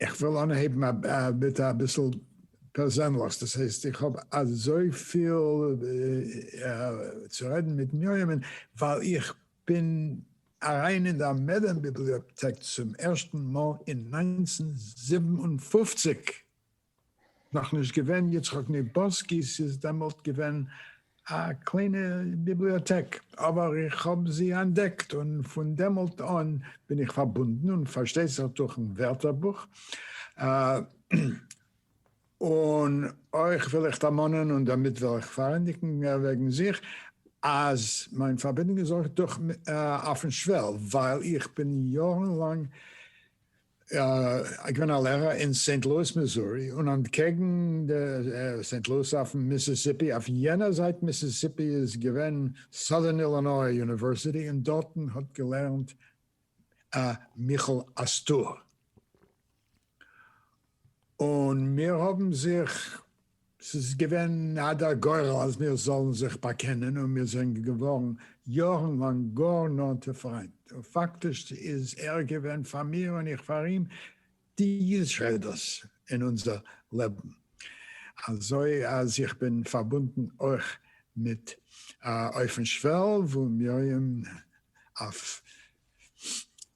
איך וויל אנהייבן מיט אביסל פערזענליכס, דאס הייסט איך האב אזויפיל צו רעדן מיט מרים'ן ווייל איך בין אריין אין דער מעדעם ביבליאטעק צום ערשטן מאל אין נײַנצן זיבן און פֿופֿציק, נאך נישט געווען יצחק ניבאסקי, ס'איז דעמאלט געווען א קליינע ביבליאטעק, אבער איך האב זי אנטדעקט און פון דעמאלט אן בין איך פארבונדן, און פארשטייט זיך דורכ'ן ווערטערבוך, און אויך וויל איך דערמאנען, און דערמיט וויל איך פארענדיגן וועגן זיך, אז מיין פארבינדונג איז אויך דורך אויפ'ן שוועל, ווייל איך בין יארן לאנג איז געווען א לערער אין סעינט לואיס מיזורי און אנטקעגן די סעינט לואיס אויפן מיסיסיפי, אויף יענער זייט מיסיסיפי איז געווען סאדערן אילינאי יוניווערסיטי און דארטן האט געלערנט א מיכאל אסתר און מיר האבן זיך ס'איז געווען אט דער גורל אז מיר זאלן זיך באקענען, און מיר זענען געווארן יארן לאנג גאר נאנטע פריינט, און פאקטיש איז ער געווען פאר מיר און איך פאר אים די יסודות אין אונזער לעבן, אזוי אז איך בין פארבונדן אויך מיט אויפן שוועל וואו מרים אויף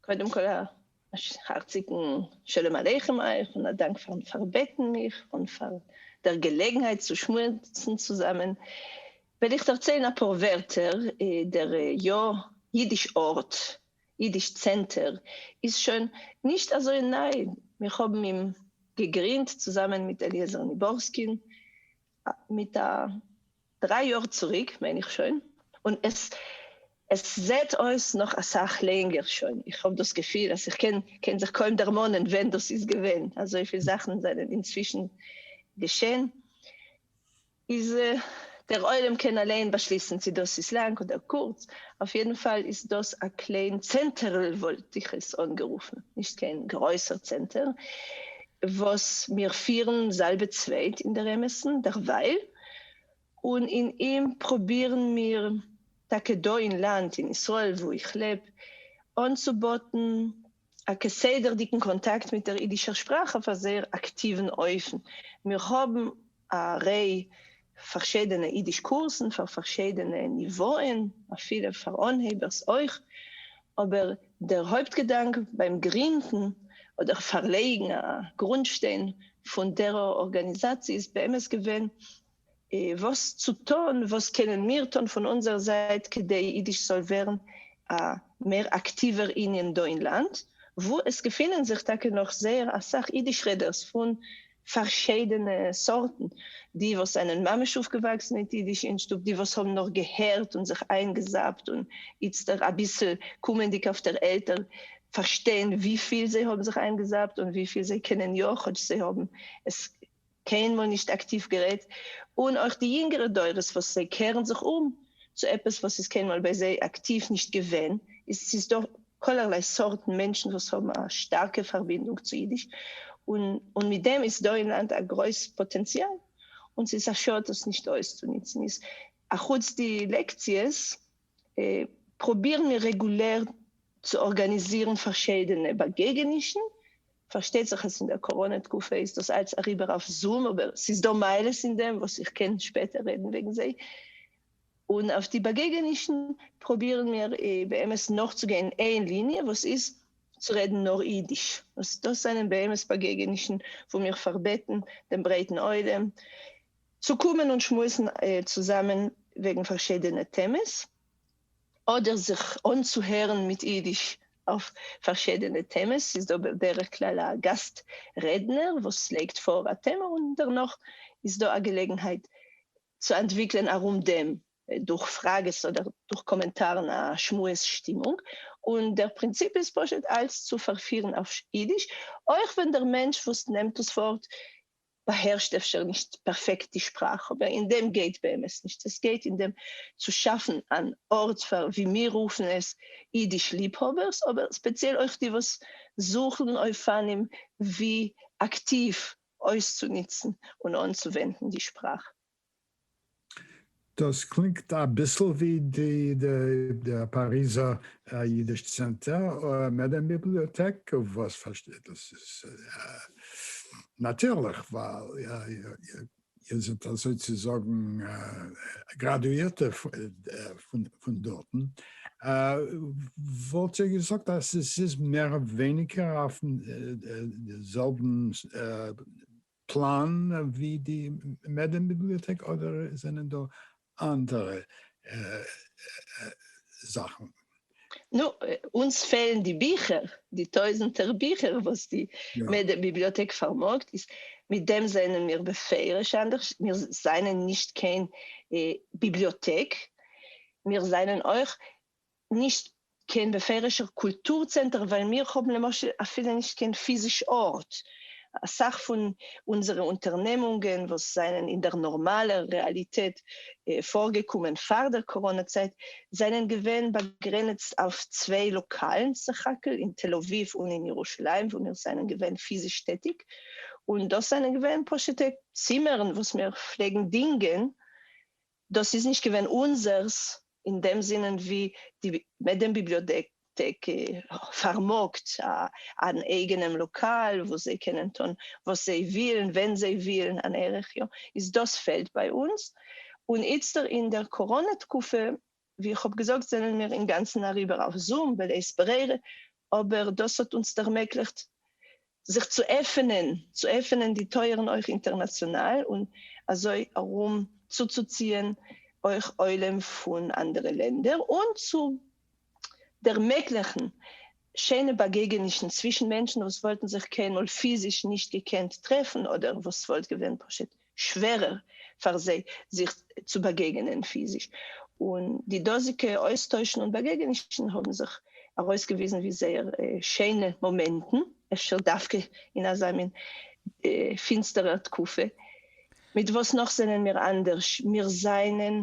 קודם כל א הארציגן שלום עליכם אייך און א דאנק פארן פארבעטן מיך און פאר דער געלעגנהייט צו שמועסן צוזאמען, וועל איך דערציילן אפאר ווערטער, דער יא אידיש ארט, אידיש צענטער, איז שוין נישט אזוי ניי, מיר האבן אים געגרינדט צוזאמען מיט אליעזר ניבורסקין מיט א דריי יאר צוריק מיין איך שוין, און עס עס זעהט אויס נאך אסאך לענגער שוין, איך האב דאס געפיל אז איך קען קען זיך קוים דערמאנען ווען דאס איז געווען, אזויפיל זאכן זענען אינצווישן געשען, איז דער עולם קען אליין באשליסן צו דאס איז לאנג אדער קורץ, אויף יעדן פאל איז דאס א קליין צענטערל וואלט איך עס אנגערופן, נישט קיין גרויסער צענטער, וואס מיר פירן זאלבע צווייט אין דער אמת'ן דערווייל, און אין אים פרובירן מיר, טאקע דא אין לאנד, אין ישראל וואו איך לעב, אנצובאטן א כסדר'דיגן קאנטאקט מיט דער אידישער שפראך אויף א זייער אקטיוון אופן. מיר האבן א ריי פארשידענע אידיש קורסן פאר פארשידענע ניוואען, אפילו פאר אנהייבערס אויך, אבער דער הויפט געדאנק ביים גרינדן אדער פארלייגן א גרונדשטיין פון דער ארגאניזאציע איז באמת געווען וואס צו טון, וואס קענען מיר טון פון אונזער זייט כדי אידיש זאל ווערן א מער אקטיווער ענין דא אין לאנד, וואו עס געפינען זיך טאקע נאך זייער אסאך אידיש-רעדערס פון פארשידענע סארטן, די וואס זענען ממש אויפגעוואקסן מיט אידיש אין שטוב, די וואס האבן נאר געהערט און זיך איינגעזאפט און איצטער אביסל קומענדיג אויף דער עלטער פארשטייען וויפיל זיי האבן זיך איינגעזאפט און וויפיל זיי קענען יא כאטש זיי האבן עס קיינמאל נישט אקטיוו גערעדט, און אויך די יונגערע דורות וואס זיי קערן זיך אום צו עפעס וואס איז קיינמאל ביי זיי אקטיוו נישט געווען, איז ס'איז דא כלערליי סארטן מענטשן וואס האבן א שטארקע פארבינדונג צו אידיש, און מיט דעם איז דא אין לאנד א גרויס פאטענציאל, און ס'איז א שאד דאס נישט אויסצוניצן. איז אחוץ די לעקציעס פרובירן מיר רעגולער צו ארגאניזירן פארשידענע באגעגענישן, פארשטייט זיך אז אין דער קאראנע תקופה איז דאס אלץ אריבער אויף זום, אבער ס'איז דא מעלות אין דעם וואס איך קען שפעטער רעדן וועגן זיי, און אויף די באגעגענישן פרובירן מיר באמת נאכצוגיין איין ליניע וואס איז צו רעדן נאר אידיש, וואס דאס זענען באמת באגעגענישן וואו מיר פארבעטן דעם ברייטן עולם צו קומען און שמועסן צוזאמען וועגן פארשידענע טעמעס, אדער זיך אנצוהערן מיט אידיש אויף פארשידענע טעמעס, ס'איז דא בדרך כלל א גאסט רעדנער וואס לייגט פאר א טעמע און דערנאך איז דא א געלעגנהייט צו אנטוויקלען ארום דעם דורך פראגעס אדער דורך קאמענטארן א שמועס שטימונג, און דער פרינציפ איז פשוט אלץ צו פארפירן אויף אידיש, אויך ווען דער מענטש וואס נעמט דאס ווארט באהערשט אפשר נישט פערפעקט די שפראך, אבער אין דעם גייט באמת נישט, עס גייט אין דעם צו שאפן אן ארט פאר ווי מיר רופן עס אידיש ליבהאבערס, אבער ספעציעל אויך די וואס זוכן אופנים ווי אקטיוו אויסצונוצן און אנצווענדן די שפראך. דאס קלינגט אביסל ווי די פאריזער אידיש צענטער אדער מעדעם ביבליאטעק, וואס פארשטייט דאס איז נאטירליך ווייל איר זענט אזוי צו זאגן גראדואירטע פון דארטן, וואלט איר געזאגט אז עס איז מער ווייניגער אויפן זעלבן פלאן ווי די מעדעם ביבליאטעק אדער זענען דא אנדערע זאכן. נו, אונז פעלן די ביכער, די טויזנטער ביכער וואס די מעדעם ביבליאטעק פארמאגט, איז מיט דעם זענען מיר בפירוש אנדערש, מיר זענען נישט קיין ביבליאטעק, מיר זענען אויך נישט קיין בפירוש'ער קולטור צענטער ווייל מיר האבן למשל אפילו נישט קיין פיזיש ארט, אסאך פון אונזערע אונטערנעמונגען וואס זענען אין דער נארמאלער רעאליטעט פארגעקומען פאר דער קאראנא צייט זענען געווען באגרעניצט אויף צוויי לאקאלן סך הכל אין תל אביב און אין ירושלים וואו מיר זענען געווען פיזיש טעטיג און דאס זענען געווען פשוט'ע צימערן וואס מיר פלעגן דינגען דאס איז נישט געווען אונזערס אין דעם זינען ווי די מעדעם ביבליאטעק פארמאגט אן אייגענעם לאקאל וואו זיי קענען טון וואס זיי ווילן ווען זיי ווילן אן ערך יאר איז דאס פעלט ביי אונז און איצטער אין דער קאראנע תקופה ווי איך האב געזאגט זענען מיר אינגאנצן אריבער אויף זום בלית ברירה, אבער דאס האט אונז ערמעגליכט זיך צו עפענען, צו עפענען די טויערן אויך אינטערנאציאנאל, און אזוי ארום צוצוציען אויך עולם פון אנדערע לענדער, און צו ערמעגליכן שיינע באגעגענישן צווישן מענטשן וואס וואלטן זיך קיינמאל פיזיש נישט געקענט טרעפן, אדער וואס וואלט געווען פשוט שווערער פאר זיי זיך צו באגעגענען פיזיש, און די דאזיגע אויסטוישן און באגעגענישן האבן זיך ארויסגעוויזן ווי זייער שיינע מאמענטן, אפשר דווקא אין אזא מין פינסטערער תקופה. מיט וואס נאך זענען מיר אנדערש? מיר זענען,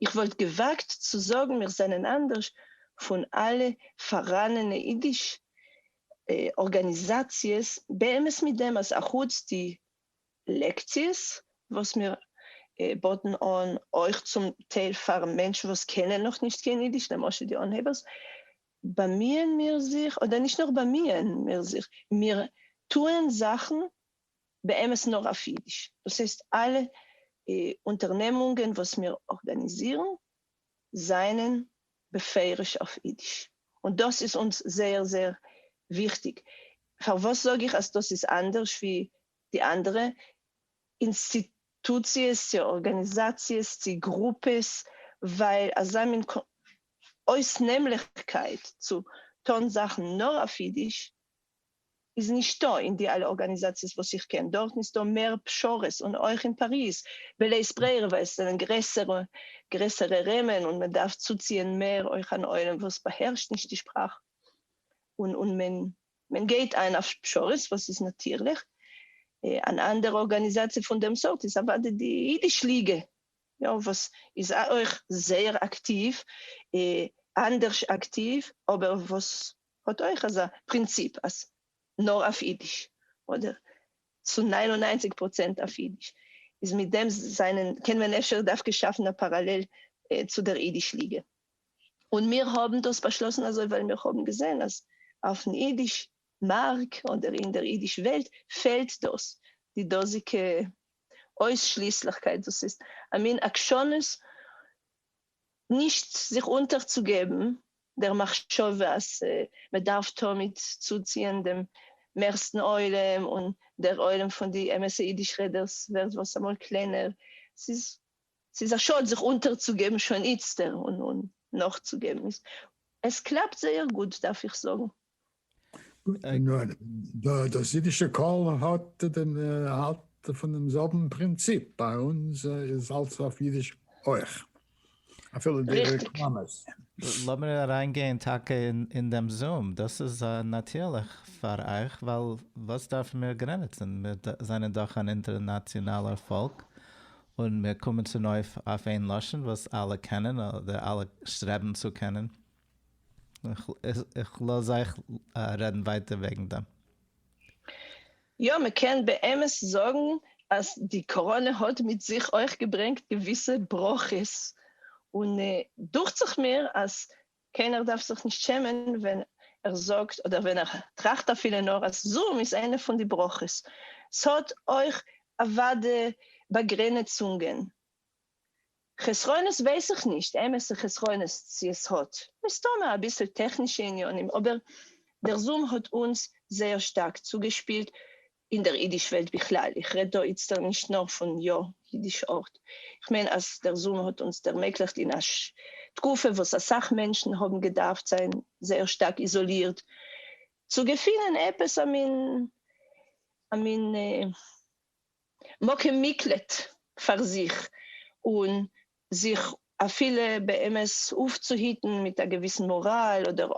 איך וואלט געוואגט צו זאגן, מיר זענען אנדערש פון אלע פאראנענע אידיש ארגאניזאציעס, באמת מיט דעם אז אחוץ די לעקציעס וואס מיר באטן אן אויך צום טייל פאר מענטשן וואס קענען נאכנישט קיין אידיש, למשל די אנהייבערס, באמיען מיר זיך, אדער נישט נאר באמיען מיר זיך, מיר טוען זאכן באמת נאר אויף אידיש, דאס הייסט אלע אונטערנעמונגען וואס מיר ארגאניזירן, זענען בפירוש אויף אידיש, און דאס איז אונז זייער זייער וויכטיג. פארוואס זאג איך אז דאס איז אנדערש ווי די אנדערע אינסטיטוציעס צי ארגאניזאציעס צי גרופעס? ווייל אזא מין אויסנעמליכקייט צו טון זאכן נאר אויף אידיש איז נישטא אין די אלע ארגאניזאציעס וואס איך קען, דארטן איז דא מער פשרות, און אויך אין פאריז בלית ברירה ווייל עס זענען גרעסערע גרעסערע ראמען און מען דארף צוציען מער אויך אן עולם וואס באהערשט נישט די שפראך און און מען מען גייט איין אויף פשרות וואס איז נאטירליך. אן אנדערע ארגאניזאציע פון דעם סארט איז אוודאי די אידיש ליגע יא וואס איז אויך זייער אקטיוו אנדערש אקטיוו אבער וואס האט אויך אזא פרינציפ אז נאר אויף אידיש, אדער צו נײַן און נײַנציק פראצענט אויף אידיש, איז מיט דעם זענען קען מען אפשר דווקא שאפן א פאראלעל צו דער אידיש ליגע. און מיר האבן דאס באשלאסן אזוי ווייל מיר האבן געזען אז אויפן אידיש מארק אדער אין דער אידיש וועלט פעלט דאס, די דאזיגע אויסשליסליכקייט, דאס איז א מין עקשנות נישט זיך אונטערצוגעבן דער מחשבה אז מען דארף תמיד צוציען דעם מערסטן עולם, און דער עולם פון די אמת'ע אידיש רעדערס ווערט וואס אמאל קלענער, ס'איז ס'איז א שאד זיך אונטערצוגעבן שוין איצטער און נאכצוגעבן, עס קלאפט זייער גוט דארף איך זאגן. נאר דאס אידישע קול האט דעם האלט פון דעם זעלבן פרינציפ, ביי אונז איז אלס אויף אידיש אויך, אפילו די רעקלאמעס. לאמיר אריינגיין טאקע אין דעם זום, דאס איז נאטירליך פאר אייך, ווייל וואס דארפן מיר גרעניצן, מיר זענען דאך אן אינטערנאציאנאלער פאלק, און מיר קומען צונויף אויף איין לשון וואס אלע קענען, אדער אלע שטרעבן צו קענען. איך לאז אייך רעדן ווייטער וועגן דעם. יא, מען קען באמת זאגן אז די קאראנע האט מיט זיך אויך געברענגט געוויסע ברכות, און דוכט זיך מיר אז קיינער דארף זיך נישט שעמען ווען ער זאגט אדער ווען ער טראכט אפילו נאר אז זום איז איינע פון די ברכות. ס'האט אויך אוודאי באגרענעצונגען, חסרונות ווייס איך נישט אמת'ע חסרונות צו עס האט, מסתמא אביסל טעכנישע עניינים, אבער דער זום האט אונז זייער שטארק צוגעשפילט, אין דער אידיש וועלט בכלל, איך רעד דא איצטער נישט נאר פון יא אידיש ארט, איך מיין אז דער זום האט אונז ערמעגליכט אין א תקופה וואס אסאך מענטשן האבן געדארפט זיין זייער שטארק איזאלירט, צו געפינען עפעס א מין א מין. מקום מקלט פאר זיך, און זיך אפילו באמת אויפצוהיטן מיט א געוויסן מאראל, אדער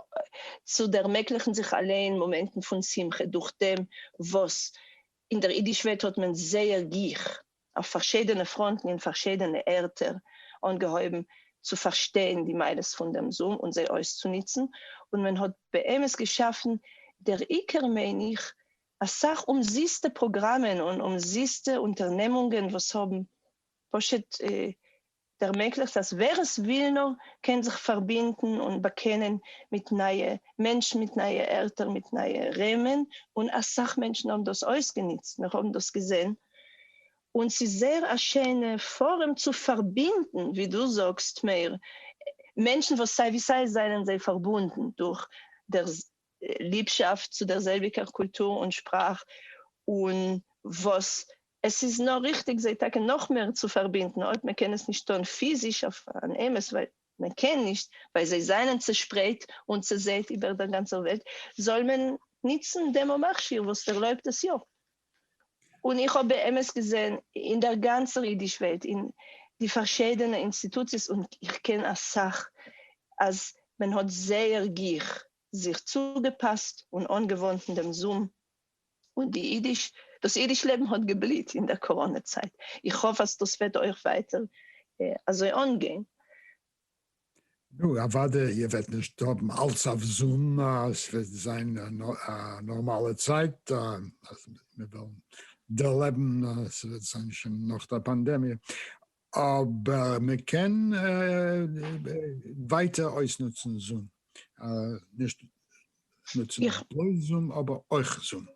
צו ערמעגליכן זיך אליין מאמענטן פון שמחה, דורך דעם וואס אין דער אידיש וועלט האט מען זייער גיך, אויף פארשידענע פראנטן אין פארשידענע ערטער, אנגעהויבן צו פארשטיין די מעלות פון דעם זום און זיי אויסצוניצן, און מען האט באמת געשאפן דער עיקר מיין איך אסאך אומזיסטע פראגראמען און אומזיסטע אונטערנעמונגען וואס האבן פשוט ערמעגליכט אז ווער עס וויל נאר קען זיך פארבינדן און באקענען מיט נייע מענטשן מיט נייע ערטער מיט נייע ראומען און אסאך מענטשן האבן דאס אויסגענוצט מיר האבן דאס געזען און ס'איז זייער א שיינע פארום צו פארבינדן ווי דו זאגסט מאיר מענטשן וואס סיי ווי סיי זענען זיי פארבונדן דורך דער ליבשאפט צו דער זעלביקער קולטור און שפראך, און וואס עס איז נאר ריכטיג זיי טאקע נאך מער צו פארבינדן, אויב מען קען עס נישט טון פיזיש אויף אן אמת, ווייל מען קען נישט, ווייל זיי זיינען צעשפרייט און צעזעט איבער דער גאנצער וועלט, זאל מען ניצן דעם מכשיר וואס ערלויבט עס יא. און איך האב באמת געזען אין דער גאנצער אידיש וועלט, אין די פארשיידענע אינסטיטוציעס, און איך קען אסאך, אז מען האט זייער גיך זיך צוגעפּאַסט און אָנגעוואָנדן דעם זום, און די ייִדיש, דאָס ייִדיש לעבן האָט געבליט אין דער קאָראָנע-צײַט. איך האָף, אַז דאָס וועט אויך ווײַטער אַזוי אָנגיין. נו, אַוודאי, איר וועט נישט האָבן אַלץ אויף זום, ס'וועט זײַן אַ נאָרמאַלע צײַט, אַז מיר וועלן דערלעבן, ס'וועט זײַן שוין נאָך דער פּאַנדעמיע. אבער מען קען ווייטער אויסנוצן זום, נישט נוצן בלויז זום אבער אויך זום.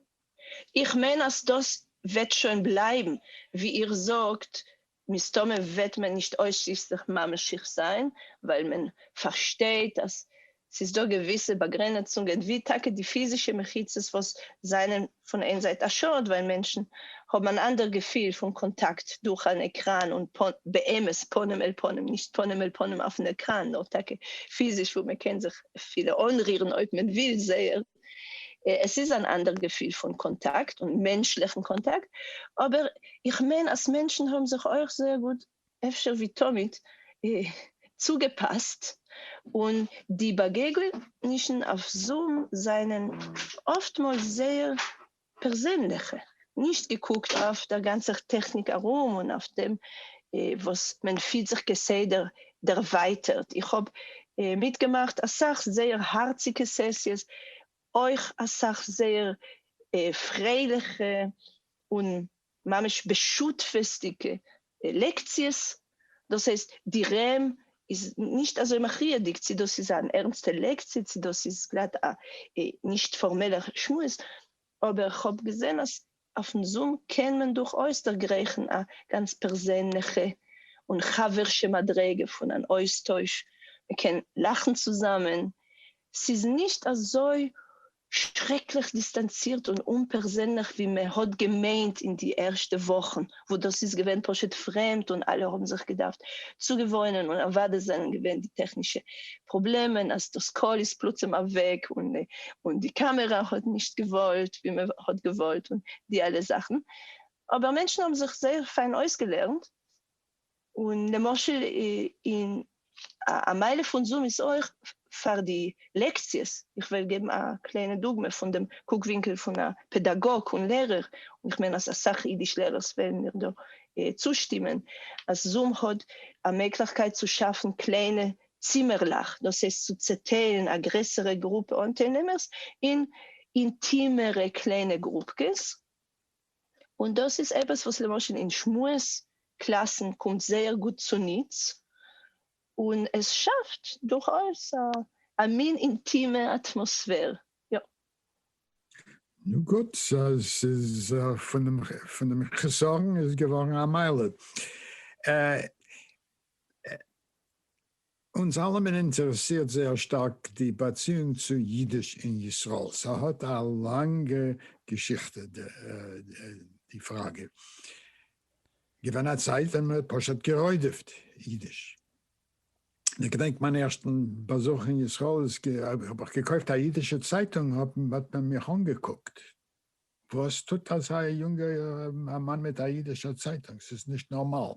איך מיין אז דאס וועט שוין בלייבן, ווי איר זאגט מסתמא וועט מען נישט אויסשליסליך ממשיך זיין, ווייל מען פארשטייט אז ס'איז דא געוויסע באגרענעצונגען ווי טאקע די פיזישע מחיצות וואס זענען פון איין זייט א שאד ווייל מענטשן האבן אן אנדער געפיל פון קאנטאקט דורך אן עקראן און באמת פנים אל פנים נישט פנים אל פנים אויפן עקראן נאר טאקע פיזיש וואו מען קען זיך אפילו אנרירן אויב מען וויל זייער עס איז אן אנדער געפיל פון קאנטאקט און מענטשליכן קאנטאקט אבער איך מיין אז מענטשן האבן זיך אויך זייער גוט אפשר ווי תמיד צוגעפאסט, און די באגעגענישן אויף זום זענען אפטמאל זייער פערזענליכע, נישט געקוקט אויף דער גאנצער טעכניק ארום און אויף דעם וואס מען פילט זיך כסדר דערווייטערט. איך האב מיטגעמאכט אסאך זייער הארציגע סעסיעס, אויך אסאך זייער פרייליכע און ממש בשותפות'דיגע לעקציעס, דאס הייסט די רמ איז נישט אזוי מכריע'דיג צו דאס איז אן ערנסטע לעקציע צו דאס איז גלאט א נישט פארמעלער שמועס, אבער כ'האב געזען אז אויפן זום קען מען דורכאויס דערגרייכן א גאנץ פערזענליכע און חבר'שע מדריגה פון אן אויסטויש, מ'קען לאכן צוזאמען, ס'איז נישט אזוי שרעקליך דיסטאנצירט און אומפערזענליך ווי מען האט געמיינט אין די ערשטע וואכן וואס דאס איז געווען פשוט פרעמד און אלע האבן זיך געדארפט צוגעוואוינען און אוודאי זענען געווען די טעכנישע פראבלעמען אז דאס קול איז פלוצים אוועק און די קאמערע האט נישט געוואוירט ווי מען האט געוואלט און די אלע זאכן אבער מענטשן האבן זיך זייער פיין אויסגעלערנט און למשל אין א מייל פון זום איז אויך פאר די לעקציעס, איך וועל געבן א קליינע דוגמא פון דעם קוק ווינקל פון א פעדאגאג און לערער, און איך מיין אז אסאך אידיש לערערס וועלן מיר דא צושטימען, אז זום האט א מעגליכקייט צו שאפן קליינע צימערלעך, דאס הייסט צו צעטיילן א גרעסערע גרופע אנטיילנעמערס אין אינטימערע קליינע גרופקעס, און דאס איז עפעס וואס למשל אין שמועס קלאסן קומט זייער גוט צוניץ, און עס שאפט דורכאויס א מין אינטימע אטמאספער. יא. נו גוט, ס'איז פון דעם חסרון איז געווארן א מעלה. אונז אלעמען אינטערעסירט זייער שטארק די באציאונג צו אידיש אין ישראל, ס'האט א לאנגע געשיכטע די פראגע. געווען א צייט ווען מ'האט פשוט גע'רודפ'ט אידיש. איך געדענק מיין ערשטן באזוך אין ישראל איז האב איך געקויפט א אידישע צייטונג האט מען מיך אנגעקוקט וואס טוט אזא יונגע א מאן מיט א אידישע צייטונג ס'איז נישט נארמאל.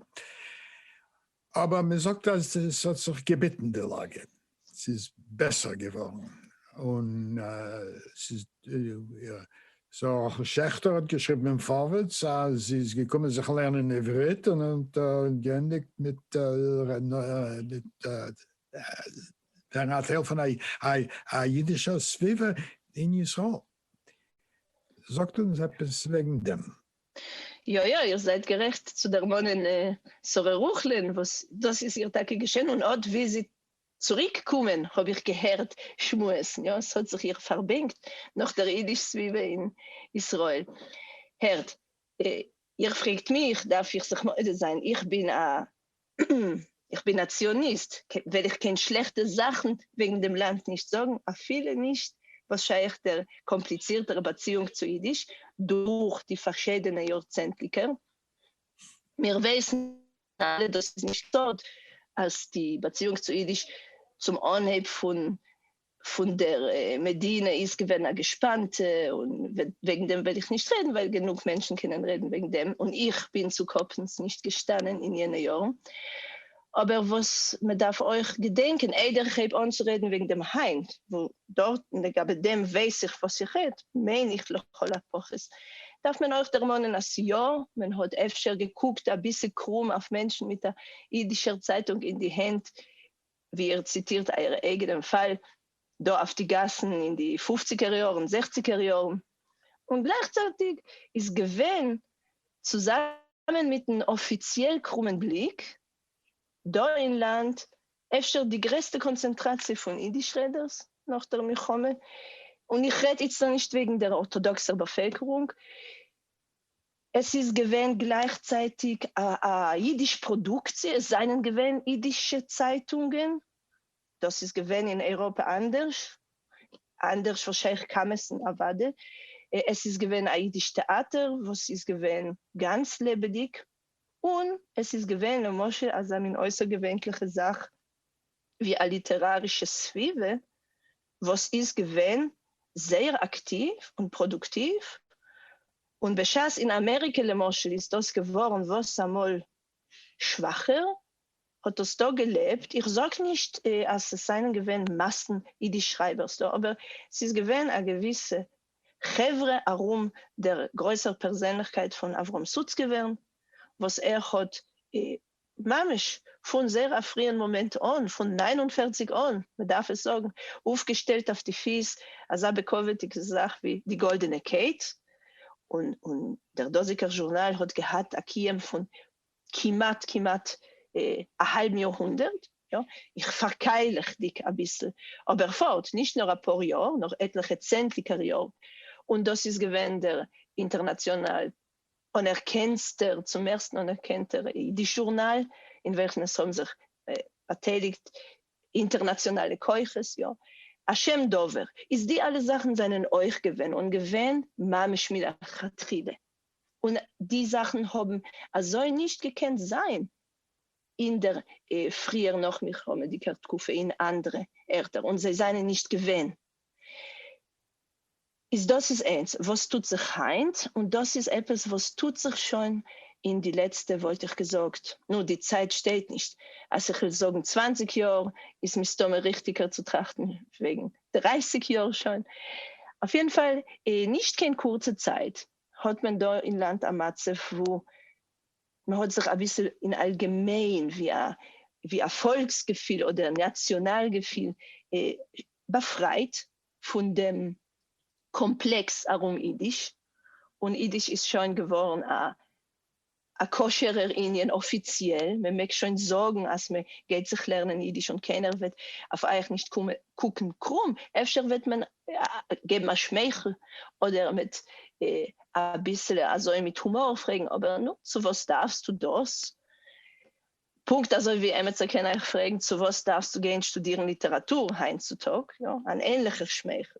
אבער מען זאגט אז עס האט זיך געביטן די לאגע, ס'איז בעסער געווארן, און ס'איז יא. סאו רחל שעכטער האט געשריבן אין פארווערטס אז זי איז געקומען זיך לערנען עברית און האט געענדיגט מיט ווערן א טייל פון א אידישער סביבה אין ישראל. זאגט אונז עפעס וועגן דעם. יא יא איר זייט גערעכט צו דערמאנען שרה רוכלען וואס דאס איז איר טאקע געשען און אט ווי זי צוריק קומען האב איך געהערט שמועסן יא עס האט זיך איר פארבענקט נאך דער אידיש סביבה אין ישראל הערט איר פרעגט מיך דארף איך זיך מודה זיין איך בין א איך בין א ציוניסט וועל איך קיין שלעכטע זאכן וועגן דעם לאנד נישט זאגן, אפילו נישט וואס שייך דער קאמפליצירטער באציאונג צו אידיש דורך די פארשידענע יארצענטליקער. מיר ווייסן אלע דאס איז נישט סוד אז די באציאונג צו אידיש צום אנהייב פון פון דער מדינה איז געווען א געשפאנטע, און וועגן דעם וועל איך נישט רעדן ווייל גענוג מענטשן קענען רעדן וועגן דעם, און איך בין צו קאפנס נישט געשטאנען אין יענע יארן. אבער וואס מען דארף אויך געדענקען איידער איך הייב אן צו רעדן וועגן דעם היינט, וואו דארט לגבי דעם ווייס איך וואס איך רעד, מיין איך לכל הפחות, דארף מען אויך דערמאנען אז יא, מען האט אפשר געקוקט אביסל קרום אויף מענטשן מיט א אידישער צייטונג אין די הענט, ווי איר ציטירט אייער אייגענעם פאל דא אויף די גאסן אין די פופציגער יארן, זעכציגער יארן, און גלייכצייטיג איז געווען, צוזאמען מיטן אפיציעל קרומען בליק, דא אין לאנד אפשר די גרעסטע קאנצענטראציע פון אידיש רעדערס נאך דער מלחמה, און איך רעד איצטער נישט וועגן דער ארטאדאקסער באפעלקערונג, עס איז געווען גלייכצייטיג א אידיש פראדוקציע, עס זענען געווען אידישע צייטונגען, דאס איז געווען אין אייראפע אנדערש, אנדערש וואס שייך קאמעס און נעוואדע, עס איז געווען א אידיש טעאטער וואס איז געווען גאנץ לעבעדיג, און עס איז געווען למשל אזא מין אויסערגעווענליכע זאך ווי א ליטערארישע סביבה וואס איז געווען זייער אקטיוו און פראדוקטיוו, און בשעת אין אמעריקע למשל איז דאס געווארן וואסאמאל שוואכער, האט דאס דא געלעבט, איך זאג נישט אז עס זענען געווען מאסן אידיש שרייבערס דא, אבער ס'איז געווען א געוויסע חברה ארום דער גרויסער פערזענליכקייט פון אברהם סוצקעווערן וואס ער האט ממש פון זייער א פריען מאמענט אן, פון נײַן און פֿערציק אן, מ'דארף עס זאגן, אויפגעשטעלט אויף די פיס אזא בעקווערדיגע זאך ווי די גאלדענע קייט, און און דער דאזיגער זשורנאל האט געהאט א קיום פון כמעט כמעט א האלבן יאר הונדערט, יא, איך פארקייליכדיג אביסל, אבער פארט, נישט נאר אפאר יאר, נאר עטליכע צענדליגער יאר, און דאס איז געווען דער אינטערנאציאנאל אנערקענסטער, צום ערשטן אנערקענטער, אידיש זשורנאל, אין וועלכן עס האבן זיך באטייליגט אינטערנאציאנאלע כוחות, יא, א שם דבר איז די אלע זאכן זענען אויך געווען, און געווען ממש מלכתחילה, און די זאכן האבן אזוי נישט געקענט זיין אין דער פריער נאכמלחמה'דיגער תקופה אין אנדערע ערטער, און זיי זענען נישט געווען. איז דאס איז איינס וואס טוט זיך היינט, און דאס איז עפעס וואס טוט זיך שוין אין די לעצטע וואלט איך געזאגט, נו די צייט שטייט נישט, אז איך וויל זאגן צוואַנציק יאר, איז מסתמא ריכטיגער צו טראכטן וועגן דרײַסיק יאר שוין, אויף יעדן פאל אין נישט קיין קורצע צייט האט מען דא אין לאנד א מצב וואו מען האט זיך אביסל אין אלגעמיין ווי א ווי א פאלקס געפיל אדער נאציאנאל געפיל באפרייט פון דעם קאמפלעקס ארום אידיש, און אידיש איז שוין געווארן א כשר'ער ענין אפיציעל, מען מעג שוין זאגן אז מען גייט זיך לערנען אידיש און קיינער וועט אויף אייך נישט קוקן קרום, אפשר וועט מען געבן א שמייכל אדער מיט אביסל אזוי מיט הומאר פרעגן, אבער נו, צו וואס דארפסטו דאס? פונקט אזוי ווי עמיצער קען אייך פרעגן צו וואס דארפסטו גיין שטודירן ליטעראטור היינט צו טאג, יא, אן ענליכער שמייכל.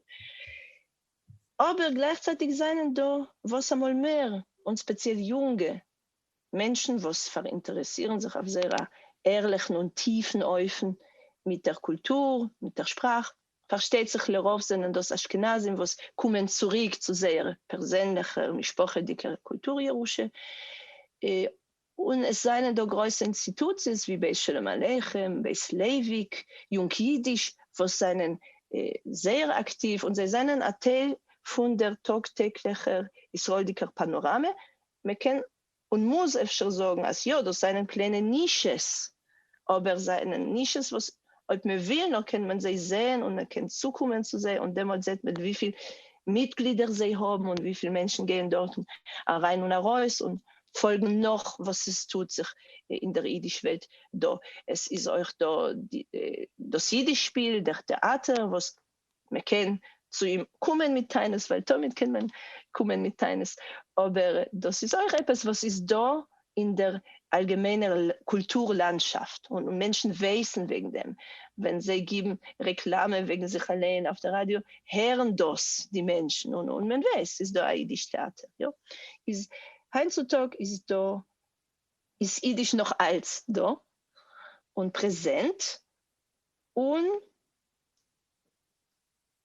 אבער גלייכצייטיג זענען דא וואס אמאל מער, און ספעציעל יונגע, מענטשן וואס פאראינטערעסירן זיך אויף זייער א ערליכן און טיפן אופן מיט דער קולטור, מיט דער שפראך. פארשטייט זיך לרוב זענען דאס אשכנזים וואס קומען צוריק צו זייער פערזענליכער משפחה'דיגער קולטור ירושה, און עס זיינען דא גרויסע אינסטיטוציעס ווי בית שלום עליכם, בית לייוויק, יונג אידיש, וואס זענען זייער אקטיוו און זיי זענען א טייל פון דער טאג טעגליכער ישראלדיקער פאנאראמע, מען קען און מוז אפשר זאגן אז יא, דאס זענען קליינע נישעס אבער זיי זענען נישס וואס אויב מען וויל נאר קען מען זיי זעהן און מען קען צוקומען צו זיי און דעמאלט זעהט מען וויפיל מיטגלידער זיי האבן און וויפיל מענטשן גייען דארטן אריין און ארויס און פאלגן נאך וואס עס טוט זיך אין דער אידיש וועלט דא, עס איז אויך דא דאס אידיש שפיל, דער טעאטער וואס מען קען צו אים קומען מיט טענות ווייל תמיד קען מען קומען מיט טענות, אבער דאס איז אויך עפעס וואס איז דא אין דער אלגעמיינער קולטור לאנדשאפט און מענטשן ווייסן וועגן דעם, ווען זיי גיבן רעקלאמע וועגן זיך אליין אויף דער ראדיא הערן דאס די מענטשן און און מען ווייסט ס'איז דא א אידיש טעאטער, יא איז היינט צו טאג איז דא איז אידיש נאך אלץ דא און פרעזענט און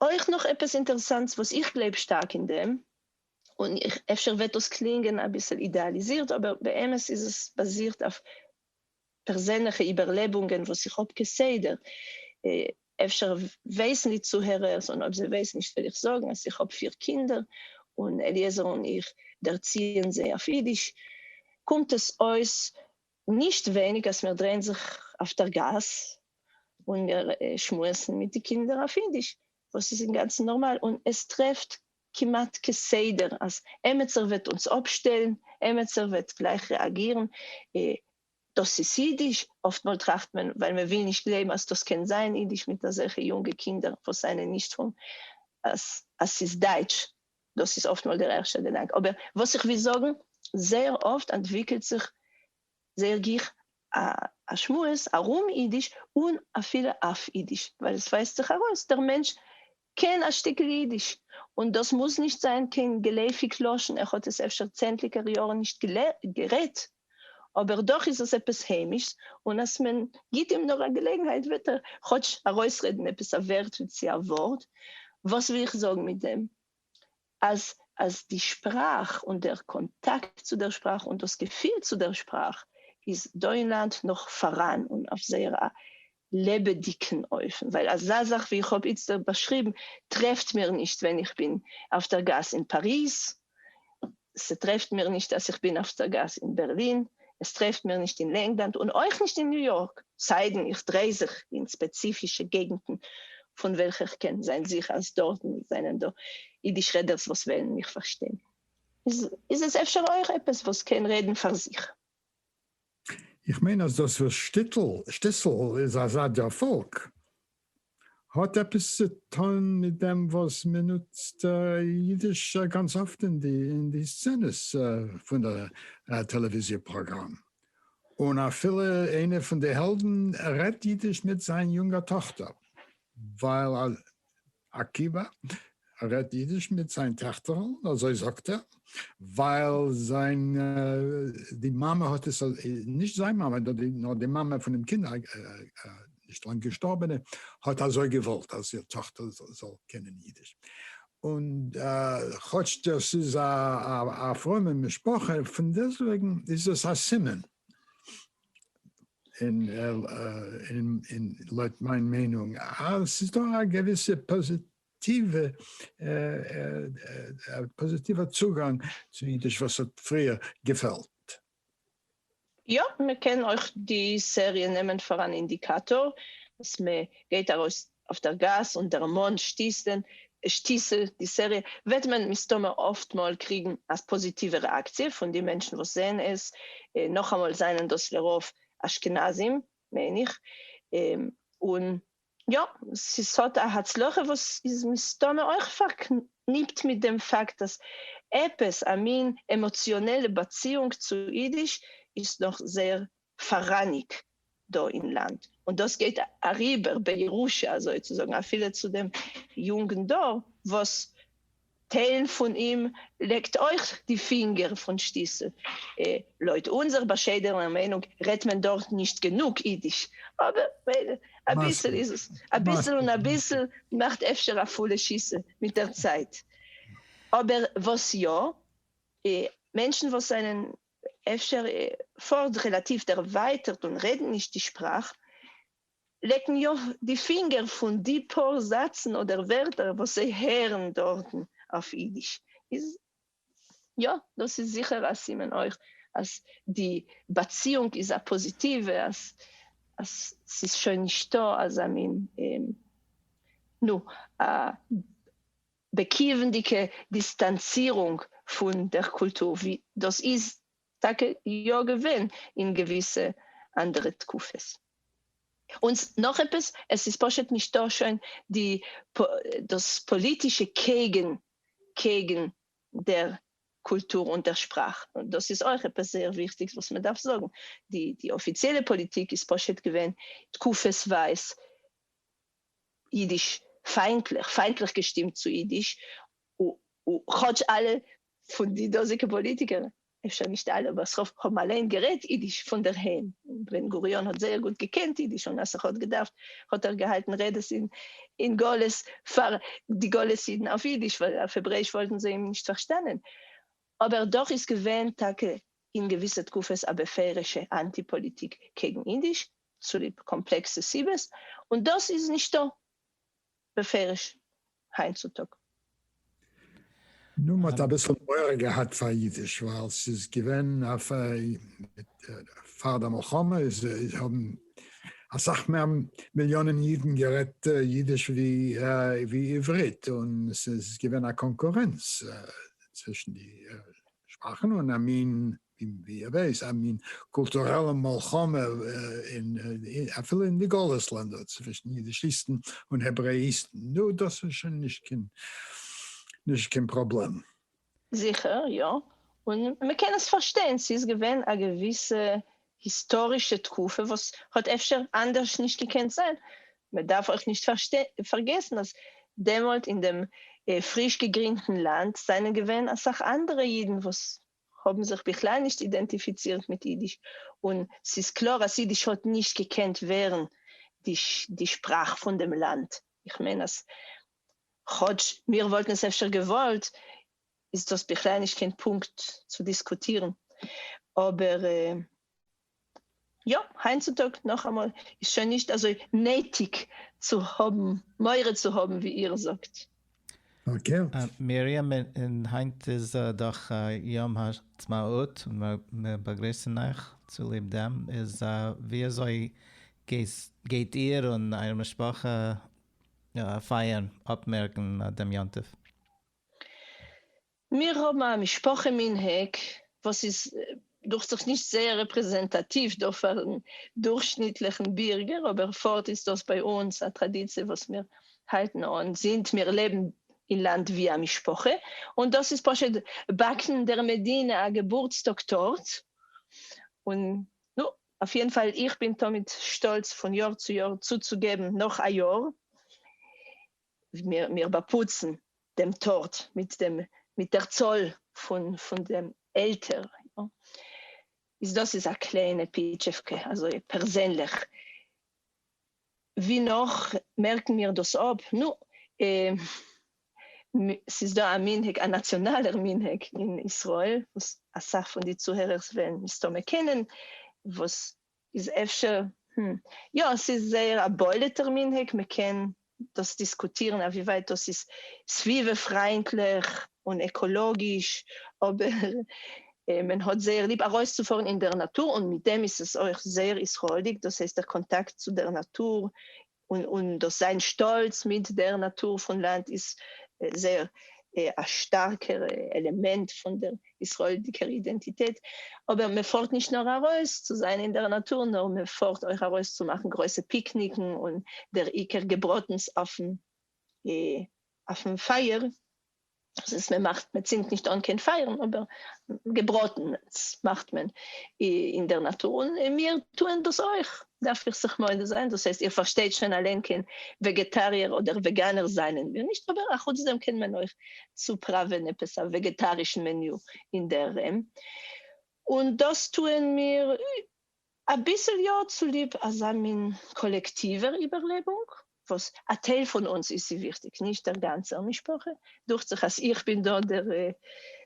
אויך נאך עפעס אינטערסאנטס וואס איך גלייב שטארק אין דעם, און אפשר וועט דאס קלינגען אביסל אידעאליזירט אבער באמת איז עס באזירט אויף פערזענליכע איבערלעבונגען וואס איך האב כסדר, אפשר ווייסן די צוהערערס און אויב זיי ווייסן נישט וועל איך זאגן אז איך האב פיר קינדער און אליעזר און איך דערציען זיי אויף אידיש, קומט עס אויס נישט ווייניג אז מיר דרייען זיך אויף דער גאס און מיר שמועסן מיט די קינדער אויף אידיש, וואס איז אינגאנצן נארמאל, און עס טרעפט כמעט כסדר אז עמעצער וועט אונז אפשטעלן, עמעצער וועט גלייך רעאגירן, אה, דאס איז אידיש? אפטמאל טראכט מען, ווייל מען וויל נישט גלייבן אז דאס קען זיין אידיש מיט אזעלכע יונגע קינדער וואס זענען נישט פון אז אז ס'איז דייטש. דאס איז אפטמאל דער ערשטער געדאנק, אבער וואס איך וויל זאגן, זייער אפט אנטוויקלט זיך זייער גיך א שמועס ארום אידיש און אפילו אויף אידיש, ווייל עס ווייזט זיך ארויס דער מענטש קען א שטיקל אידיש, און דאס מוז נישט זיין קיין געלעפיג לשון, ער האט עס אפשר צענדליגער יארן נישט גערעדט, אבער דאך איז עס עפעס היימיש'ס, און אז מען גיבט אים נאר א געלעגנהייט וועט ער כאטש ארויסרעדן עפעס א ווערטל צי א ווארט. וואס וויל איך זאגן מיט דעם? אז אז די שפראך און דער קאנטאקט צו דער שפראך און דאס געפיל צו דער שפראך איז דא אין לאנד נאך פאראן און אויף זייער א לעבעדיגן אופן, ווייל אזא זאך ווי איך האב איצטערט באשריבן טרעפט מיר נישט ווען איך בין אויף דער גאס אין פאריז, ס'טרעפט מיר נישט אז איך בין אויף דער גאס אין בערלין, עס טרעפט מיר נישט אין לענגלאנד און אויך נישט אין ניו יארק, סיידן איך דריי זיך אין ספעציפישע געגנטן פון וועלכע איך קען זיין זיכער אז דארטן זענען דא אידיש רעדערס וואס וועלן מיך פארשטיין, איז עס אפשר אויך עפעס וואס קען רעדן פאר זיך. איך מיין אז דאס וואס שטיטל, שטיסל, איז אזא דערפאלק האט עפעס צו טון מיט דעם וואס מען נוצט אידיש גאנץ אפט אין די סצענעס פון די טעלעוויזיע פראגראם, און אפילו איינע פון די העלדן רעדט אידיש מיט זיין יונגע טאכטער, ווייל עקיבא רעדט אידיש מיט זיין טעכטערל, אזוי זאגט ער, ווייל זיין די מאמע האט עס, נישט זיין מאמע, נאר די מאמע פון דעם קינד, נישט לאנג געשטארבענע, האט אזוי געוואלט אז איר טאכטער זאל קענען אידיש. און כאטש דאס איז א פרומע משפחה, פונדעסטוועגן איז עס א סימן אין אין לויט מיין מיינונג אז ס'איז דא א געוויסע פאזיטיווע פאזיטיווע צוגאנג צו אידיש וואס האט פריער געפעלט. יא, מ'קען אויך די סעריע נעמען פאר אן אינדיקאטאר אז מ'גייט ארויס אויף דער גאס און דערמאנט שטיסל די סעריע, וועט מען מסתמא אפטמאל קריגן א פאזיטיווע רעאקציע פון די מענטשן וואס זעען עס, נאכאמאל זענען דאס לרוב אשכנזים מיין איך, און יא, עס האט א הצלחה וואס איז מסתמא אויך פארקניפט מיט דעם פאקט אז עפעס א מין עמאציאנעלע באציאונג צו אידיש איז נאך זייער פאראייניגט דא אין לאנד, און דאס גייט אריבער בירושה אזוי צו זאגן אפילו צו דעם יונגן דור וואס טייל פון אים לעקט אויך די פינגער פון שטיסל. לויט אונזער באשיידענער מיינונג רעדט מען דארט נישט גענוג אידיש, אבער מילא, אביסל איז עס אביסל און אביסל מאכט אפשר א פולע שיסל מיט דער צייט. אבער וואס יא, מענטשן וואס זענען אפשר פארט רעלאטיוו דערווייטערט און רעדן נישט די שפראך, לעקן יא די פינגער פון די פאר זאצן אדער ווערטער וואס זיי הערן דארטן אויף אידיש, איז יא דאס איז זיכער א סימן אויך אז די באציאונג איז א פאזיטיווע, אז אז ס'איז שוין נישטא אזא מין נו א. באקוועמדיגע דיסטאנצירונג פון דער קולטור, ווי דאס איז טאקע יא געווען אין געוויסע אנדערע תקופות. און נאך עפעס, עס איז פשוט נישטא שוין די דאס פאליטישע קעגן קעגן דער קולטור און דער שפראך, דאס איז אויך עפעס זייער וויכטיגס וואס מען דארף זאגן, די די אפיציעלע פאליטיק איז פשוט געווען תקופות ווייז אידיש פיינטליך, פיינטליך געשטימט צו אידיש, כאטש אלע פון די דאזיגע פאליטיקער, אפשר נישט אלע אבער ס'רוב, האבן אליין גערעדט אידיש פונדערהיים, בן גוריון האט זייער גוט געקענט אידיש און אז ס'ך האט געדארפט האט ער געהאלטן רעדעס אין גלות פאר די גלות אידן אויף אידיש ווייל אויף העברעיש וואלטן זיי אים נישט פארשטאנען, אבער דאך איז געווען טאקע אין געוויסע תקופות א בפירוש'ע אנטי פאליטיק קעגן אידיש, צוליב קאמפלעקסע סיבות, און דאס איז נישטא בפירוש היינט צו טאג. נו, מ'האט אביסל מורא געהאט פאר אידיש ווייל ס'איז געווען פאר די מלחמה איז האבן אסאך מער מיליאנען אידן גערעדט אידיש ווי עברית און ס'איז געווען א קאנקורענץ צווישן די שפראכן און א מין, ווי ער ווייס, א מין קולטוראלע מלחמה אין, אפילו אין די גלות לענדער, צווישן יידישיסטן און העברעאיסטן. נו, דאס איז שוין נישט קיין, נישט קיין פראבלעם. זיכער יא, און מ'קען עס פארשטיין, ס'איז געווען א געוויסע היסטארישע תקופה וואס האט אפשר אנדערש נישט געקענט זיין, מען דארף אויך נישט פארגעסן אז דעמאלט אין דעם פריש געגרינדטן לאנד זענען געווען אסאך אנדערע אידן וואס האבן זיך בכלל נישט אידענטיפיצירט מיט אידיש, און ס'איז קלאר אז אידיש האט נישט געקענט ווערן די שפראך פון דעם לאנד, איך מיין אז כאטש מיר וואלטן עס אפשר געוואלט איז דאס בכלל נישט קיין פונקט צו דיסקוטירן, אבער יא, היינט צו טאג נאכאמאל איז שוין נישט אזוי נעטיג צו האבן מורא צו האבן ווי איר זאגט. פארקערט. מרים, און היינט איז דאך יום העצמאות, מיר באגריסן אייך צוליב דעם, איז ווי אזוי גייט איר און אייער משפחה פייערן, אפמערקן דעם יום טוב? מיר האבן א משפחה מנהג וואס איז דוכט זיך נישט זייער רעפרעזענטאטיוו דא פארן דורכשניטליכן בירגער, אבער פארט איז דאס ביי אונז א טראדיציע וואס מיר האלטן אן זינט מיר לעבן אין לאנד ווי א משפחה, און דאס איז פשוט באקן דער מדינה א געבורטסטאג טארט, און נו, אויף יעדן פאל איך בין תמיד שטאלץ פון יאר צו יאר צוצוגעבן נאך א יאר. מיר באפוצן דעם טארט מיט דעם מיט דער צאל פון פון דעם עלטער, איז דאס איז א קליינע פיטשעווקע אזוי פערזענליך, ווי נאך מערקן מיר דאס אפ? נו, ס'איז דא א מנהג, א נאציאנאלער מנהג אין ישראל, וואס אסאך פון די צוהערערס וועלן מסתמא קענען, וואס איז אפשר, הום. יא, ס'איז זייער א בולט'ער מנהג, מ'קען דאס דיסקוטירן אויף ווי ווייט דאס איז סביבה פריינטליך און עקאלאגיש, אבער מען האט זייער ליב ארויסצופארן אין דער נאטור, און מיט דעם איז עס אויך זייער ישראל'דיג, דאס הייסט דער קאנטאקט צו דער נאטור און און דאס זיין שטאלץ מיט דער נאטור פון לאנד איז זייער א שטארקער עלעמענט פון דער ישראלדיקער אידענטיטעט. אבער מען פארט נישט נאר ארויס צו זיין אין דער נאטור, נאר מען פארט אויך ארויס צו מאכן גרויסע פיקניקן און דער עיקר געבראטנס אויפן אויפן פייער. דאס איז מען מאכט מען צינדט נישט אן קיין פייערן אבער געבראטן מאכט מען אין דער נאטור און מיר טוען דאס אויך דארף איך זיך מודה זיין דאס הייסט איר פארשטייט שוין אליין קיין וועגעטאריער אדער וועגאנער זענען מיר נישט אבער א חוץ דעם קען מען אויך צופראווען עפעס א וועגעטארישן מעניו אינדערהיים און דאס טוען מיר. אביסל יא, צוליב אזא מין קאלעקטיווער איבערלעבונג, וואס א טייל פון אונז איז ס'איז וויכטיג, נישט דער גאנצער משפחה, דוכט זיך אז איך בין דא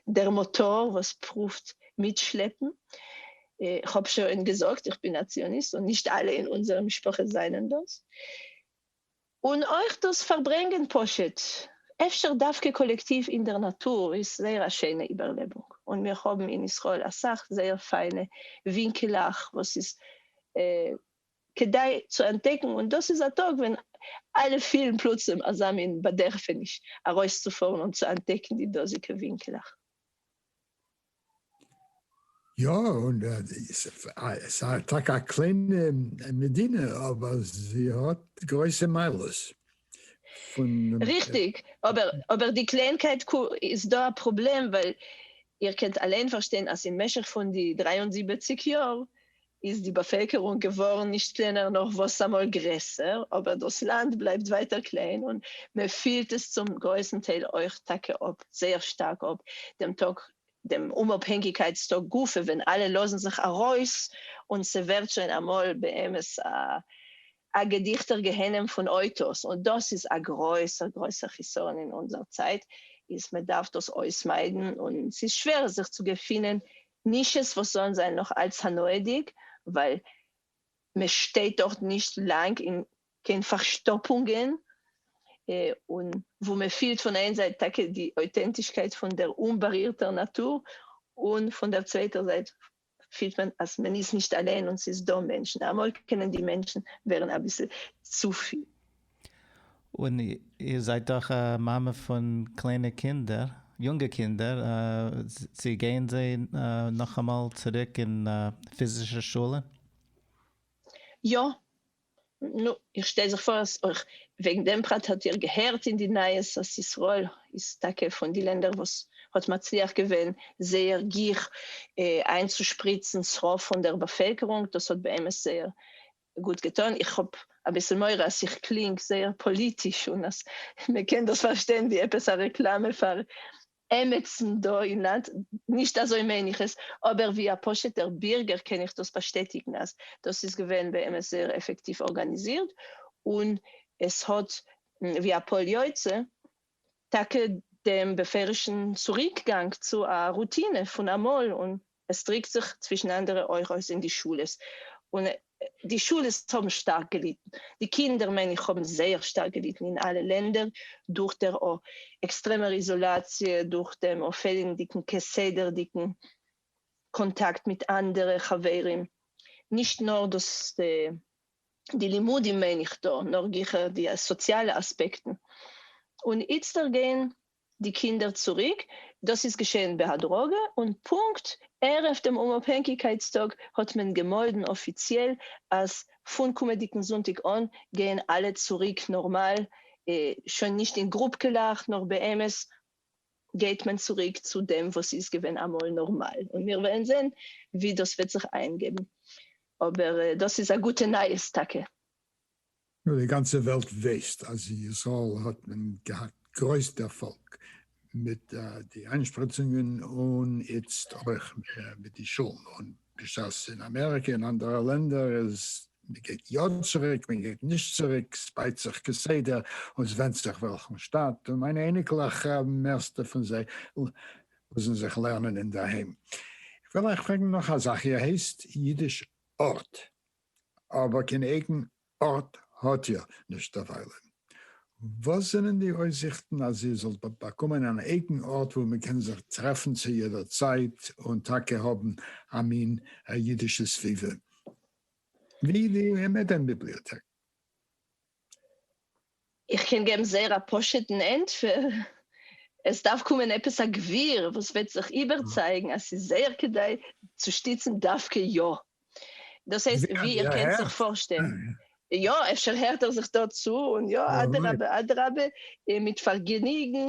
דער מאטאר וואס פרואווט מיטשלעפן, כ'האב שוין געזאגט איך בין א ציוניסט און נישט אלע אין אונזערע משפחות זענען דאס. און אויך דאס פארברענגען פשוט, אפשר דווקא קאלעקטיוו אין דער נאטור, איז זייער א שיינע איבערלעבונג, און מיר האבן אין ישראל אסאך זייער פיינע ווינקעלעך וואס איז כדאי צו אנטדעקן, און דאס איז א טאג ווען אלע פילן פלוצים אזא מין באדערפעניש ארויסצופארן און צו אנטדעקן די דאזיגע ווינקעלעך. יא, און עס איז טאקע א קליינע מדינה אבער זי האט גרויסע מעלות פון. ריכטיג, אבער די קליינקייט איז דא א פראבלעם ווייל איר קענט אליין פארשטיין אז אין משך פון די דרײַ און זיבעציק יאר איז די באפעלקערונג געווארן נישט קלענער נאר וואסאמאל גרעסער, אבער דאס לאנד בלייבט ווייטער קליין און מען פילט עס צום גרויסן טייל אויך טאקע אפ, זייער שטארק אפ, דעם טאג דעם אומאפהענגיקייטס טאג גופא ווען אלע לאזן זיך ארויס און ס'ווערט שוין אמאל באמת א געדיכטער גיהנם פון אויטאס און דאס איז א גרויסער גרויסער חיסרון אין אונזער צייט איז מען דארף דאס אויסמיידן און ס'איז שווער זיך צו געפינען נישעס וואס זאלן זיין נאך אלץ הנאה'דיג, ווייל מען שטייט דארט נישט לאנג אין קיין פארשטאפונגען, און וואו מען פילט פון איין זייט טאקע די אויטענטישקייט פון דער אומבארירטער נאטור, און פון דער צווייטער זייט פילט מען אז מען איז נישט אליין און ס'איז דא מענטשן, אמאל קענען די מענטשן ווערן אביסל צופיל. און איר זײַט דאָך אַ מאַמע פֿון קלײנע קינדער, יונגע קינדער, צי גײען זײ נאָך אַ מאָל צוריק אין פֿיזישער שולע? יאָ. נו, איך שטעל זיך פֿאָר, אַז אױך װעגן דעם פּרט האָט איר געהערט אין די נײַעס, אַז ישׂראל איז טאַקע פֿון די לענדער, װאָס האָט מצליח געװען זײער גיך אײַנצושפּריצן שׂרה פֿון דער באַפֿעלקערונג. דאָס האָט באמת זײער גוט געטון, איך האב אביסל מורא אז איך קלינג זייער פאליטיש און אז מען קען דאס פארשטיין ווי עפעס א רעקלאמע פאר עמעצן דא אין לאנד, נישט אזוי מיין איך עס, אבער ווי א פשוט'ער בירגער קען איך דאס באשטעטיגן אז דאס איז געווען באמת זייער עפעקטיוו ארגאניזירט און עס האט ווי א פועל יוצא טאקע דעם בפירוש'ן צוריקגאנג צו א רוטינע פון אמאל און עס דריקט זיך צווישן אנדערע אויך אויס אין די שולעס, און די שולעס האבן שטארק געליטן, די קינדער מיין איך האבן זייער שטארק געליטן אין אלע לענדער, דורך דער או. עקסטרעמער איזאלאציע, דורך דעם או. פעלנדיגן כסדר'דיגן קאנטאקט מיט אנדערע חברים, נישט נאר דאס די לימודים מיין איך דא, נאר גיכער די סאציאלע אספעקטן, און איצטער גייען די קינדער צוריק, דאס איז געשעהן בהדרגה, און פונקט ערב דעם אומאפהענקיגקייטס טאג האט מען געמאלדן אפיציעל אז פון קומעדיגן זונטאג אן גייען אלע צוריק נארמאל, שוין נישט אין גרופקעלעך, נאר באמת גייט מען צוריק צו דעם וואס איז געווען אמאל נארמאל, און מיר וועלן זעהן ווי דאס וועט זיך איינגעבן, אבער דאס איז א גוטע נייעס טאקע. נאר די גאנצע וועלט ווייסט אז אין ישראל האט מען געהאט גרויס דערפאלג מיט די איינשפריצונגען און איצט אויך מיט די שולן, און בשעת אין אמעריקע און אנדערע לענדער איז מען גייט יא צוריק מען גייט נישט צוריק, סבייט זיך כסדר און סווענדט זיך וועלכן שטאט, און מיינע אייניקלעך מערסטע פון זיי לאזן זיך לערנען אינדערהיים. איך וויל אייך פרעגן נאך א זאך איר הייסט אידיש ארט? אבער קיין אייגן ארט האט איר נישט דערווייל. וואס זענען די אויסזיכטן אז איר זאלט באקומען אן אייגן ארט וואו מען קען זיך טרעפן צו יעדער צייט און טאקע האבן א מין אידישע סביבה ווי די עמעדען ביבליאטעק? איך קען געבן זייער א פשוט'ן ענטפער, עס דארף קומען עפעס א גביר וואס וועט זיך איבערצייגן אז ס'איז זייער כדאי צו שטיצן דווקא יא. דאס הייסט, ווי איר קענט זיך פארשטעלן, יא, אפשר הערט ער זיך דא צו, און יא, אדרבה אדרבה, מיט פארגעניגן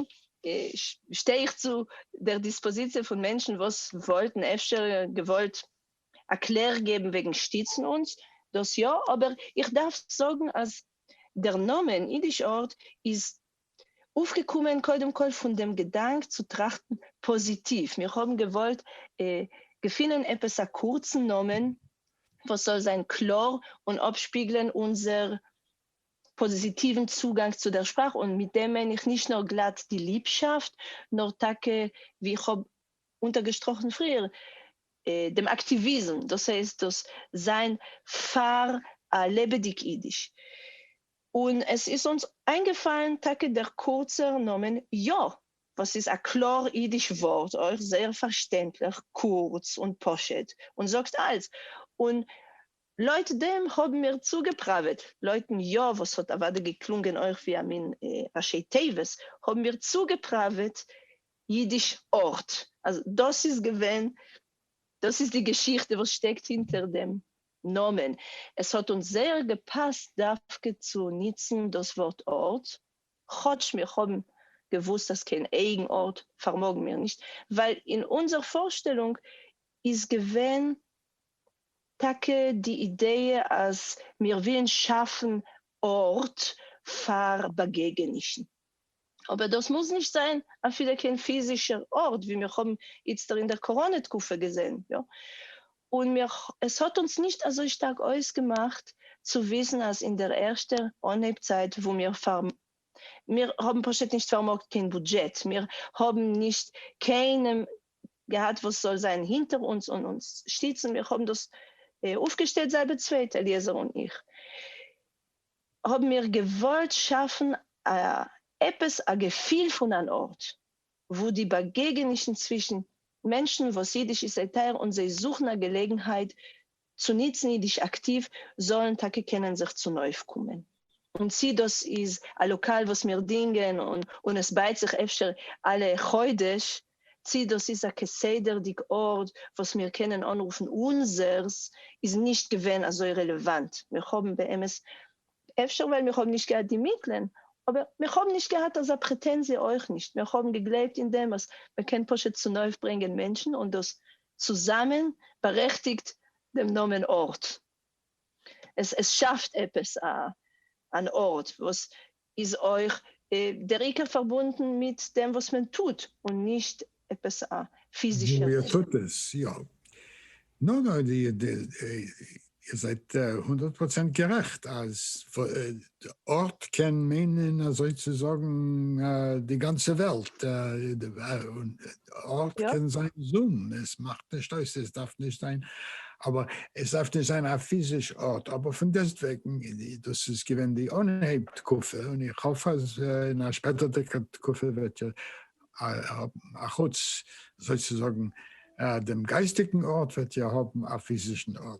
שטיי איך צו דער דיספאזיציע פון מענטשן וואס וואלטן אפשר געוואלט א קלער געבן וועגן שטיצן אונז, דאס יא, אבער איך דארף זאגן אז דער נאמען אידיש ארט איז אויפגעקומען קודם כל פון דעם געדאנק צו טראכטן פאזיטיוו, מיר האבן געוואלט געפינען עפעס א קורצן נאמען וואס זאל זיין קלאר און אפשפיגלען אונזער פאזיטיוון צוגאנג צו דער שפראך, און מיט דעם מיין איך נישט נאר גלאט די ליבשאפט, נאר טאקע ווי איך האב אונטערגעשטראכן פריער דעם אקטיוויזם, דאס הייסט דאס זיין פאר א לעבעדיג אידיש, און עס איז אונז איינגעפאלן טאקע דער קורצער נאמען יא, וואס איז א קלאר אידיש ווארט, אויך זייער פארשטענדליך, קורץ און פשוט, און זאגט אלץ, און לויט דעם האבן מיר צוגעפראוועט, לויטן יא וואס האט אוודאי געקלונגען אויך ווי א מין ראשי תיבות, האבן מיר צוגעפראוועט אידיש ארט, אז דאס איז געווען, דאס איז די געשיכטע וואס שטעקט הינטער דעם נאמען, עס האט אונז זייער געפאסט דווקא צו ניצן דאס ווארט ארט, כאטש מיר האבן געוואוסט אז קיין אייגן ארט פארמאגן מיר נישט, ווייל אין אונזער פארשטעלונג איז געווען טאקע די אידעע אז מיר ווילן שאפן ארט פאר באגעגענישן. אבער דאס מוז נישט זיין אפילו קיין פיזישער ארט ווי מיר האבן איצטער אין דער קאראנע תקופה געזען, יא? און מיר, עס האט אונז נישט אזוי שטארק אויסגעמאכט צו וויסן אז אין דער ערשטער אנהייב צייט וואו מיר פאר, מיר האבן פשוט נישט פארמאגט קיין בודזשעט, מיר האבן נישט קיינעם געהאט וואס זאל זיין הינטער אונז און אונז שטיצן, מיר האבן דאס אויפגעשטעלט זייבער צווייט, אליעזר און איך. האבן מיר געוואלט שאפן א עפעס א געפיל פון אן ארט וואו די באגעגענישן צווישן מענטשן וואס אידיש איז זיי טייער און זיי זוכן א געלעגנהייט צו נוצן אידיש אקטיוו זאלן טאקע קענען זיך צונויפקומען. און צי דאס איז א לאקאל וואס מיר דינגען און עס בייט זיך אפשר אלע חודש צי דאס איז א כסדר'דיג ארט וואס מיר קענען אנרופן אונזערס איז נישט געווען אזוי רעלעוואנט, מיר האבן באמת, אפשר ווייל מיר האבן נישט געהאט די מיטלען, אבער מיר האבן נישט געהאט אזא פרעטענזיע אויך נישט, מיר האבן געגלייבט אין דעם אז מען קען פשוט צונויפברענגען מענטשן און דאס צוזאמען בארעכטיגט דעם נאמען ארט, עס עס שאפט עפעס א אן ארט וואס איז אויך דער עיקר פארבונדן מיט דעם וואס מען טוט און נישט עפעס א פיזישע ווי איר טוט עס, יא. נו נו, איר זייט הונדערט פראצענט גערעכט אז ארט קען מיינען אזוי צו זאגן די גאנצע וועלט, אויך קען זיין זום, עס מאכט נישט אויס, עס דארף נישט זיין, אבער עס דארף נישט זיין א פיזיש ארט, אבער פון דעסט וועגן, דאס איז געווען די אנהייב תקופה, און איך האף אז אין א שפעטערדיגע תקופה וועט אחוץ זוי צו זאגן דעם גייסטיגן ארט וועט איר האבן א פיזישן ארט.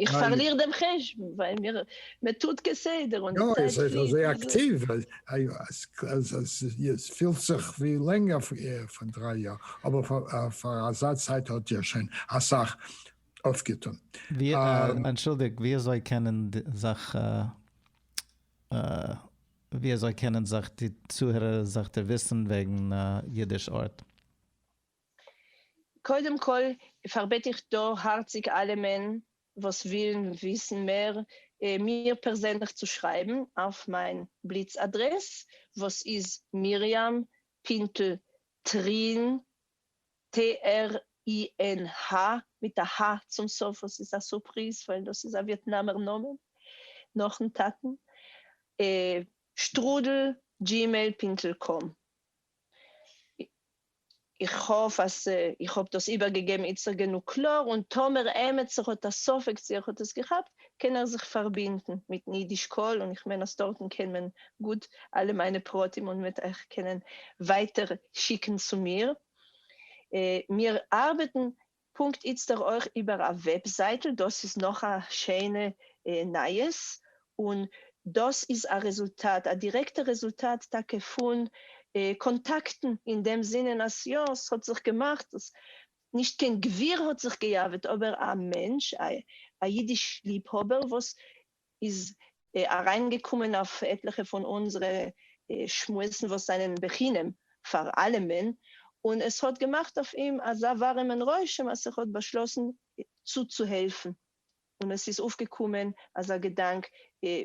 איך פארליר דעם חשבון ווייל מיר מ'טוט כסדר און די צייט פליט. יא, עס איז אזוי אקטיוו אז עס פילט זיך ווי לענגער פון דריי יאר, אבער פאר אזא צייט האט איר שוין אסאך אויפגעטון. אנטשולדיגט, ווי אזוי קענען זיך ווי אזוי קענען זיך די צוהערער זיך דערוויסן וועגן אידיש ארט? קודם כל פארבעט איך דא הארציג אלעמען וואס ווילן וויסן מער מיר פערזענליך צו שרייבן אויף מיין בליץ אדרעס וואס איז מרים פינטל טרין ט ר אי ן ה מיט א ה צום סוף וואס איז א סורפריז ווייל דאס איז א וויעטנאמער נאמען נאכן טאטן שטרודל גימעיל פינטל קאם. איך האף אז איך האב דאס איבערגעגעבן איצטער גענוג קלאר, און טאמער עמעצער האט א ספק צו איך האט עס געכאפט, קען ער זיך פארבינדן מיטן אידיש קול, און איך מיין אז דארטן קען מען גוט אלע מיינע פרטים און מ'וועט אייך קענען ווייטער שיקן צו מיר. מיר ארבעטן פונקט איצטער אויך איבער א וועבזייטל, דאס איז נאך א שיינע נייעס, און דאס איז א רעזולטאט, א דירעקטע רעזולטאט טאקע פון קאנטאקטן, אין דעם זינען אז יא, ס'האט זיך געמאכט, נישט קיין גביר האט זיך געיאוועט, אבער א מענטש, א אידיש ליבהאבער וואס איז אריינגעקומען אויף עטליכע פון אונזערע שמועסן וואס זענען בחינם פאר אלעמען, און עס האט געמאכט אויף אים אזא ווארימען רושם אז ער האט באשלאסן צוצוהעלפן, און עס איז אויפגעקומען אזא געדאנק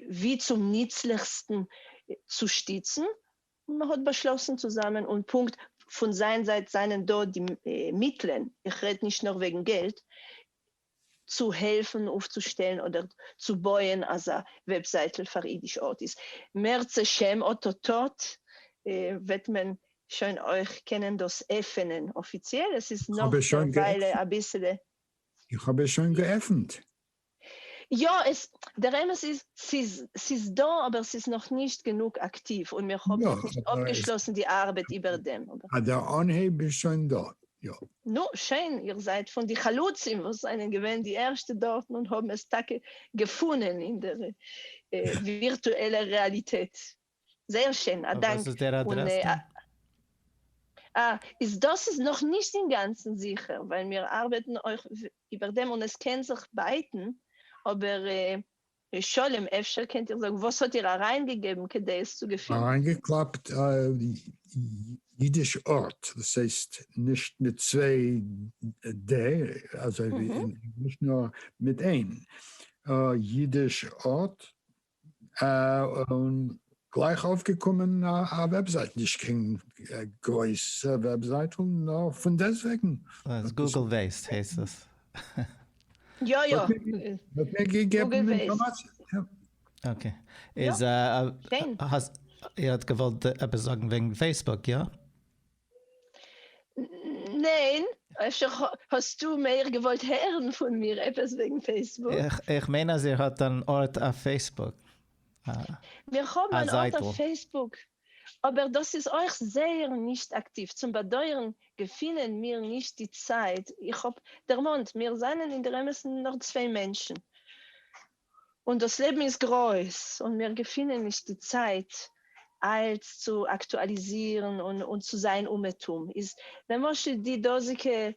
ווי צום ניצליכסטן צו שטיצן, און מען האט באשלאסן צוזאמען, און פונקט פון זיין זייט זענען דא די מיטלען, איך רעד נישט נאר וועגן געלט, צו העלפן אויפצושטעלן אדער צו בויען אזא וועבזייטל פאר אידיש ארטיסט. מערצעשעם אוטוטוט וועט מען שוין אויך קענען דאס עפענען אפיציעל, עס איז נאך דערוויילע אביסעלע. איך האב עס שוין געעפענט. יא, עס, דער אמת איז, ס'איז, ס'איז דא, אבער ס'איז נאך נישט גענוג אקטיוו, און מיר האבן נאכנישט אפגעשלאסן די ארבעט איבער דעם. אבער דער אנהייב איז שוין דארט. יא. נו, שיין, איר זייט פון די חלוצים וואס זענען געווען די ערשטע דארטן און האבן עס טאקע געפונען אין דער ווירטועלער רעאליטעט. זייער שיין, א דאנק. און וואס איז דער אדרעס דא? אה, איז דאס איז נאך נישט אינגאנצן זיכער, ווייל מיר ארבעטן אויך איבער דעם און עס קען זיך בייטן, אבער. ר' שלום אפשר קענט איר זאגן וואס האט איר אריינגעגעבן כדי עס צו געפינען? אריינגעקלאפט א אידיש אות, דאס הייסט נישט מיט צוויי ד אזוי ווי אין ענגליש נאר מיט איין אידיש אות, און גלייך אויפגעקומען א וועבזייט, נישט קיין גרויסע וועבזייטל נאר פונדעסטוועגן. גוגל וועסט הייסט עס. יא יא. האט מיר געגעבן אינפארמאציע. אקעי. איז א. שיין. איר האט געוואלט עפעס זאגן וועגן פעיסבוק, יא? ניין, אפשר האסטו מער געוואלט הערן פון מיר עפעס וועגן פעיסבוק? איך מיין אז איר האט אן ארט אויף פעיסבוק. מיר האבן אן ארט אויף פעיסבוק. אבער דאס איז אויך זייער נישט אקטיוו, צום באדויערן געפינען מיר נישט די צייט, איך האב דערמאנט מיר זענען אינדערעמעסן נאר צוויי מענטשן און דאס לעבן איז גרויס און מיר געפינען נישט די צייט אלץ צו אקטואליזירן און צו זיין אומעטום איז למשל די דאזיגע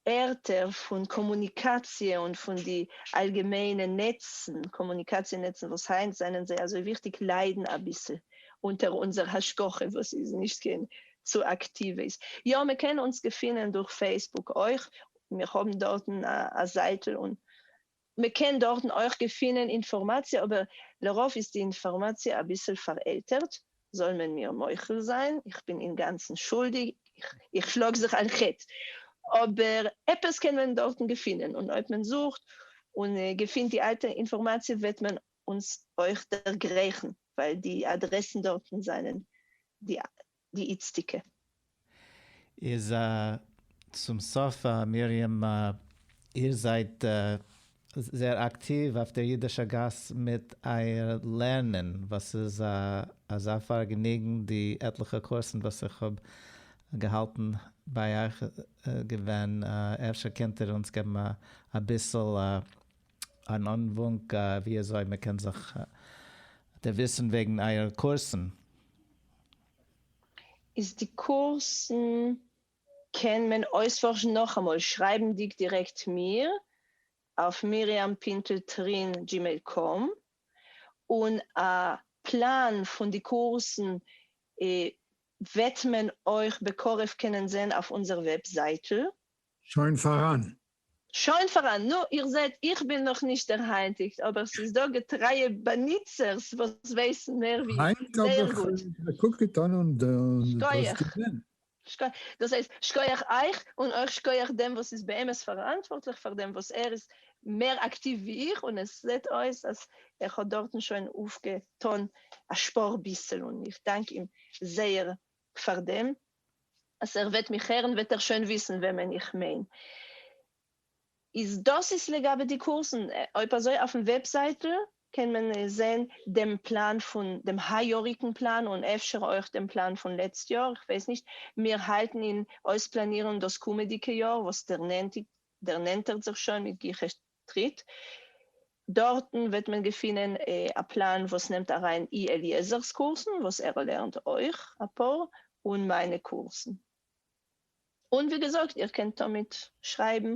ערטער פון קאמוניקאציע און פון די אלגעמיינע נעצן, קאמוניקאציע נעצן וואס היינט זענען זיי אזוי וויכטיג ליידן אביסל אונטער אונזער השגחה וואס איז נישט קיין צו אקטיוועס. יא מען קען אונז געפינען דורך פעיסבוק אויך, מיר האבן דארטן א זייטל און מ'קען דארטן אויך געפינען אינפארמאציע אבער לרוב איז די אינפארמאציע אביסל פארעלטערט, זאל מען מיר מוחל זיין, איך בין אינגאנצן שולדיג, איך שלאג זיך על חטא, אבער עפעס קען מען דארטן געפינען, און אויב מען זוכט און געפינט די אלטע אינפארמאציע וועט מען אונז אויך דערגרייכן, ווייל די אדרעסן דארטן זענען די די איצטיגע. איז א צום סוף א מרים א. איר זייט זייער אקטיוו אויף דער אידישער גאס מיט אייער לערנען, וואס איז א אזא פארגעניגן, די עטליכע קורסן וואס איך האב געהאלטן ביי אייך געווען, אפשר קענט איר אונז געבן אביסל אן אנוואונק ווי אזוי מען קען זיך דערוויסן וועגן אייערע קורסן, איז די קורסן קען מען אויספארשן נאכאמאל שרייבנדיג דירעקט מיר אויף מרים פינטל טרין דזשימעיל קאם, און א פלאן פון די קורסן וועט מען אויך בקרוב קענען זען אויף אונזער וועבזייטל. שוין פאראן. שוין פאראן. נו, איר זעט, איך בין נאך נישט דער היינטיגסט, אבער ס'איז דא געטרייע באנוצערס וואס ווייסן מער ווי איך, זייער גוט. היינט האב איך געקוקט אן און דאס געזען. שכוח. דאס הייסט, שכוח אייך, און אויך שכוח דעם וואס איז באמת פאראנטווארטליך פאר דעם, וואס ער איז מער אקטיוו ווי איך, און עס זעט אויס אז ער האט דארטן שוין אויפגעטון א שפור ביסל, און איך דאנק אים זייער פארדעם אז ער וועט מיך הערן וועט ער שוין וויסן וועמען איך מיין. איז דאס איז לגבי די קורסן, אויב אזוי אויפן וועבזייטל קען מען זעהן דעם פלאן פון דעם היי יאריגן פלאן און אפשר אויך דעם פלאן פון לעצט יאר, איך ווייס נישט, מיר האלטן אין אויספלאנירן דאס קומעדיגע יאר וואס דערנענטערט זיך שוין מיט גיכע טריט, דארטן וועט מען געפינען א פלאן וואס נעמט אריין אי אליעזר'ס קורסן, וואס ער לערנט אויך אפאר, און מיינע קורסן. און ווי געזאגט, איר קענט תמיד שרייבן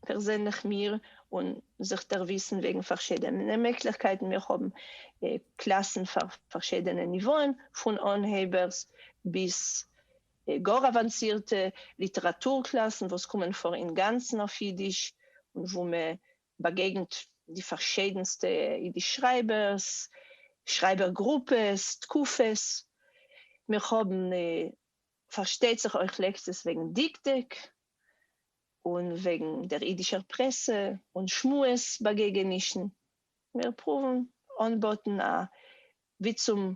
פערזענליך מיר און זיך דערוויסן וועגן פארשידענע מעגליכקייטן, מיר האבן קלאסן פאר פארשידענע ניוואען, פון אנהייבערס ביז גאר אוואנסירטע ליטעראטור קלאסן וואס קומען פאר אינגאנצן אויף אידיש, און וואו מען באגעגנט די פארשיידנסטע אידיש שרייבערס, שרייבער גרופעס, תקופות. מיר האבן פארשטייט זיך אויך לעקציעס וועגן דקדוק, און וועגן דער אידישער פרעסע און שמועס באגעגענישן. מיר פרואוון אנבאטן א ווי צום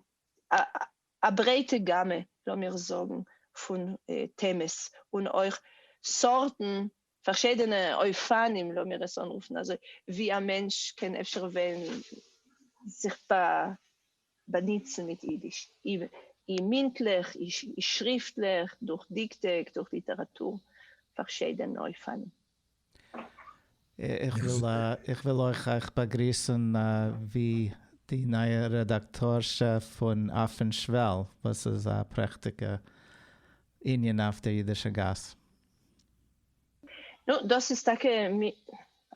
א ברייטע גאמע לאמיר זאגן פון טעמעס און אויך סארטן פארשידענע אופנים לאמיר עס אנרופן אזוי ווי א מענטש קען אפשר וועלן זיך באניצן מיט אידיש אי מינטליך אי שריפטליך דורך דיקטעק דורך ליטעראטור פארשידענע אופנים. איך וויל אויך אייך באגריסן ווי די נייע רעדאקטארשע פון אפן שוועל וואס איז א פרעכטיגע ענין אויף דער אידישע גאס. נו, דאס איז טאקע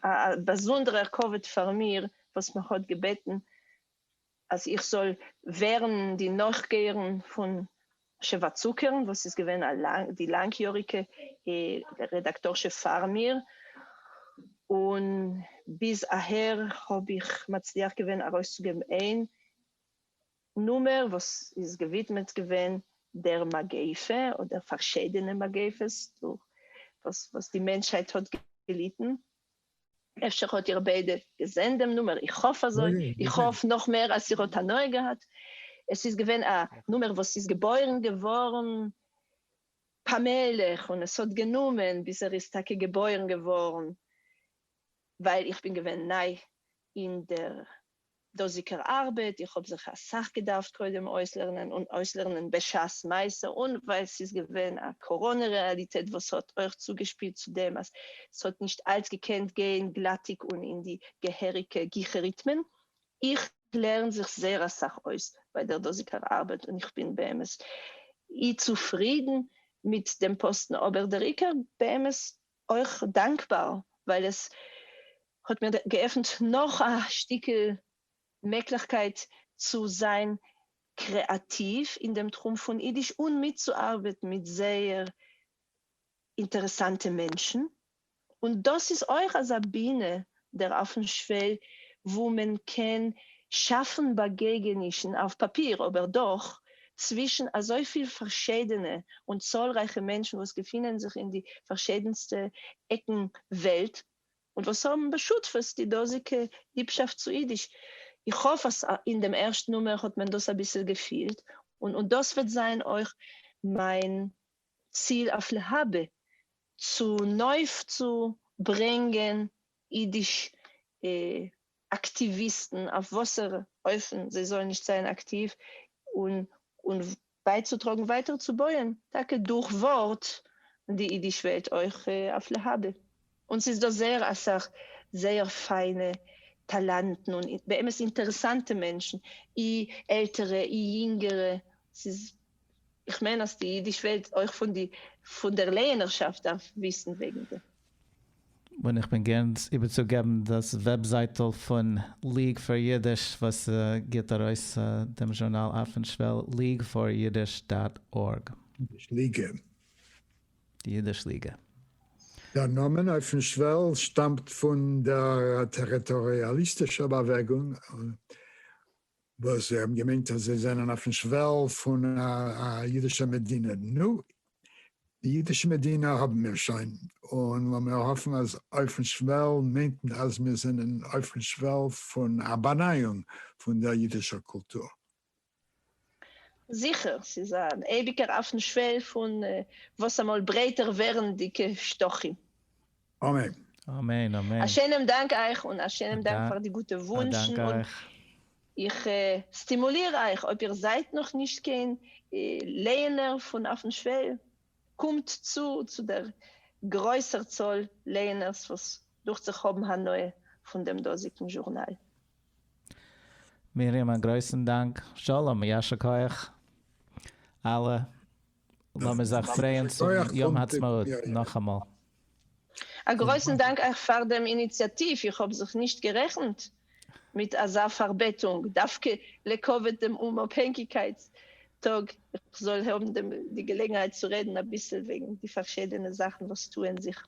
א באזונדערער כבוד פאר מיר וואס מען האט געבעטן אז איך זאל ווערן די נאכגייערן פון שבעה צוקערן וואס איז געווען די לאנגיאריגע רעדאקטארשע פאר מיר, און ביז אהער האב איך מצליח געווען ארויסצוגעבן איין נומער וואס איז געווידמעט געווען דער מגיפה אדער פארשידענע מגיפות דורך וואס די מענטשהייט האט געליטן, אפשר האט איר ביידע געזען דעם נומער, איך האף אזוי, איך האף נאך מער אז איר האט הנאה געהאט, עס איז געווען א נומער וואס איז געבוירן געווארן פאמעליך און עס האט גענומען ביז ער איז טאקע געבוירן געווארן, ווייל איך בין געווען ניי אין דער דאָזיקער אַרבעט. איך האָב זיך אַ סך געדאַרפֿט קודם אויסלערנען און אויסלערנען בשעת מעשׂה, און ווײַל ס'איז געווען אַ קאָראָנע-רעאַליטעט, וואָס האָט אויך צוגעשפּילט צו דעם, אַז ס'האָט נישט אַלץ געקענט גיין גלאַטיק און אין די געהעריקע גיכער-ריטמען. איך לערן זיך זייער אַ סך אויס בײַ דער דאָזיקער אַרבעט און איך בין באמת אי צופֿרידן מיט דעם פּאָסטן, אָבער דער עיקר, באמת, אויך דאנקבאר ווייל עס האט מיר געעפנט נאך א שטיקל מעגליכקייט צו זיין קרעאטיוו אין דעם תחום פון אידיש און מיטצוארבעטן מיט זייער אינטערעסאנטע מענטשן, און דאס איז אויך אזא בינה דער אפן שוועל וואו מען קען שאפן באגעגענישן אויף פאפיר אבער דאך צווישן אזויפיל פארשידענע און צאלרייכע מענטשן וואס געפינען זיך אין די פארשידענסטע עקן וועלט און וואס האבן בשותפות די דאזיגע ליבשאפט צו אידיש. איך האף אז אין דעם ערשטן נומער האט מען דאס אביסל געפילט און דאס וועט זיין אויך מיין צו אויף להבא צו נויף צו ברענגען אידיש אקטיוויסטן אויף וואסערע אופן זיי זאלן נישט זיין אקטיוו און און בייצוטראגן ווייטער צו בויען טאקע דורך ווארט די אידיש וועלט אויך אויף להבא. און ס'איז דא זייער אסאך זייער פיינע טאלאנטן און באמת אינטערעסאנטע מענטשן, אי עלטערע אי יונגערע, ס'איז איך מיין אז די אידיש וועלט אויך פון די פון דער לערנערשאפט דארף וויסן וועגן דעם. און איך בין גערן איבערצוגעבן דאס וועבזייטל פון ליג פאר אידיש וואס גיבט ארויס דעם זשורנאל אויפן שוועל, leagueforyiddish דאט ארג. נישט ליגע. די אידיש ליגע. דער נאמען אויפן שוועל שטאמט פון דער טעריטאריאליסטישער באוועגונג, וואס זיי האבן געמיינט אז זיי זענען אויפן שוועל פון א אידישער מדינה. נו, די אידישע מדינה האבן מיר שוין, און לאמיר האפן אז אויפן שוועל מיינט אז מיר זענען אויפן שוועל פון א באנייאונג פון דער אידישער קולטור. זיכער, ס'איז אן אייביגער אויפן שוועל פון וואס אמאל ברייטער ווערנדיגע שטחים. אמן. אמן אמן. א שיינעם דאנק אייך און א שיינעם דאנק פאר די גוטע וואונטשן און איך סטימוליר אייך אויב איר זייט נאך נישט קיין לייענער פון אויפן שוועל קומט צו צו דער גרויסער צאל לייענערס וואס דוכט זיך האבן הנאה פון דעם דאזיגן זשורנאל. מרים א גרויסן דאנק. שלום, יישר כח אלע. לאמיר זיך פרייען צום יום העצמאות נאכאמאל. א גרויסן דאנק אייך פאר דעם איניציאטיוו, איך האב זיך נישט גערעכנט מיט אזא פארבעטונג, דווקא לכבוד דעם אומאפהענגיקייטס טאג, איך זאל האבן די געלעגנהייט צו רעדן אביסל וועגן די פארשידענע זאכן וואס טוען זיך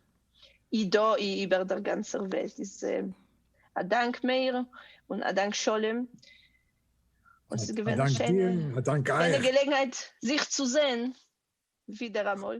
אי דא אי איבער דער גאנצער וועלט איז א דאנק מאיר און א דאנק שלום און ס'איז געווען א שיינע געלעגנהייט זיך צו זען ווידעראמאל.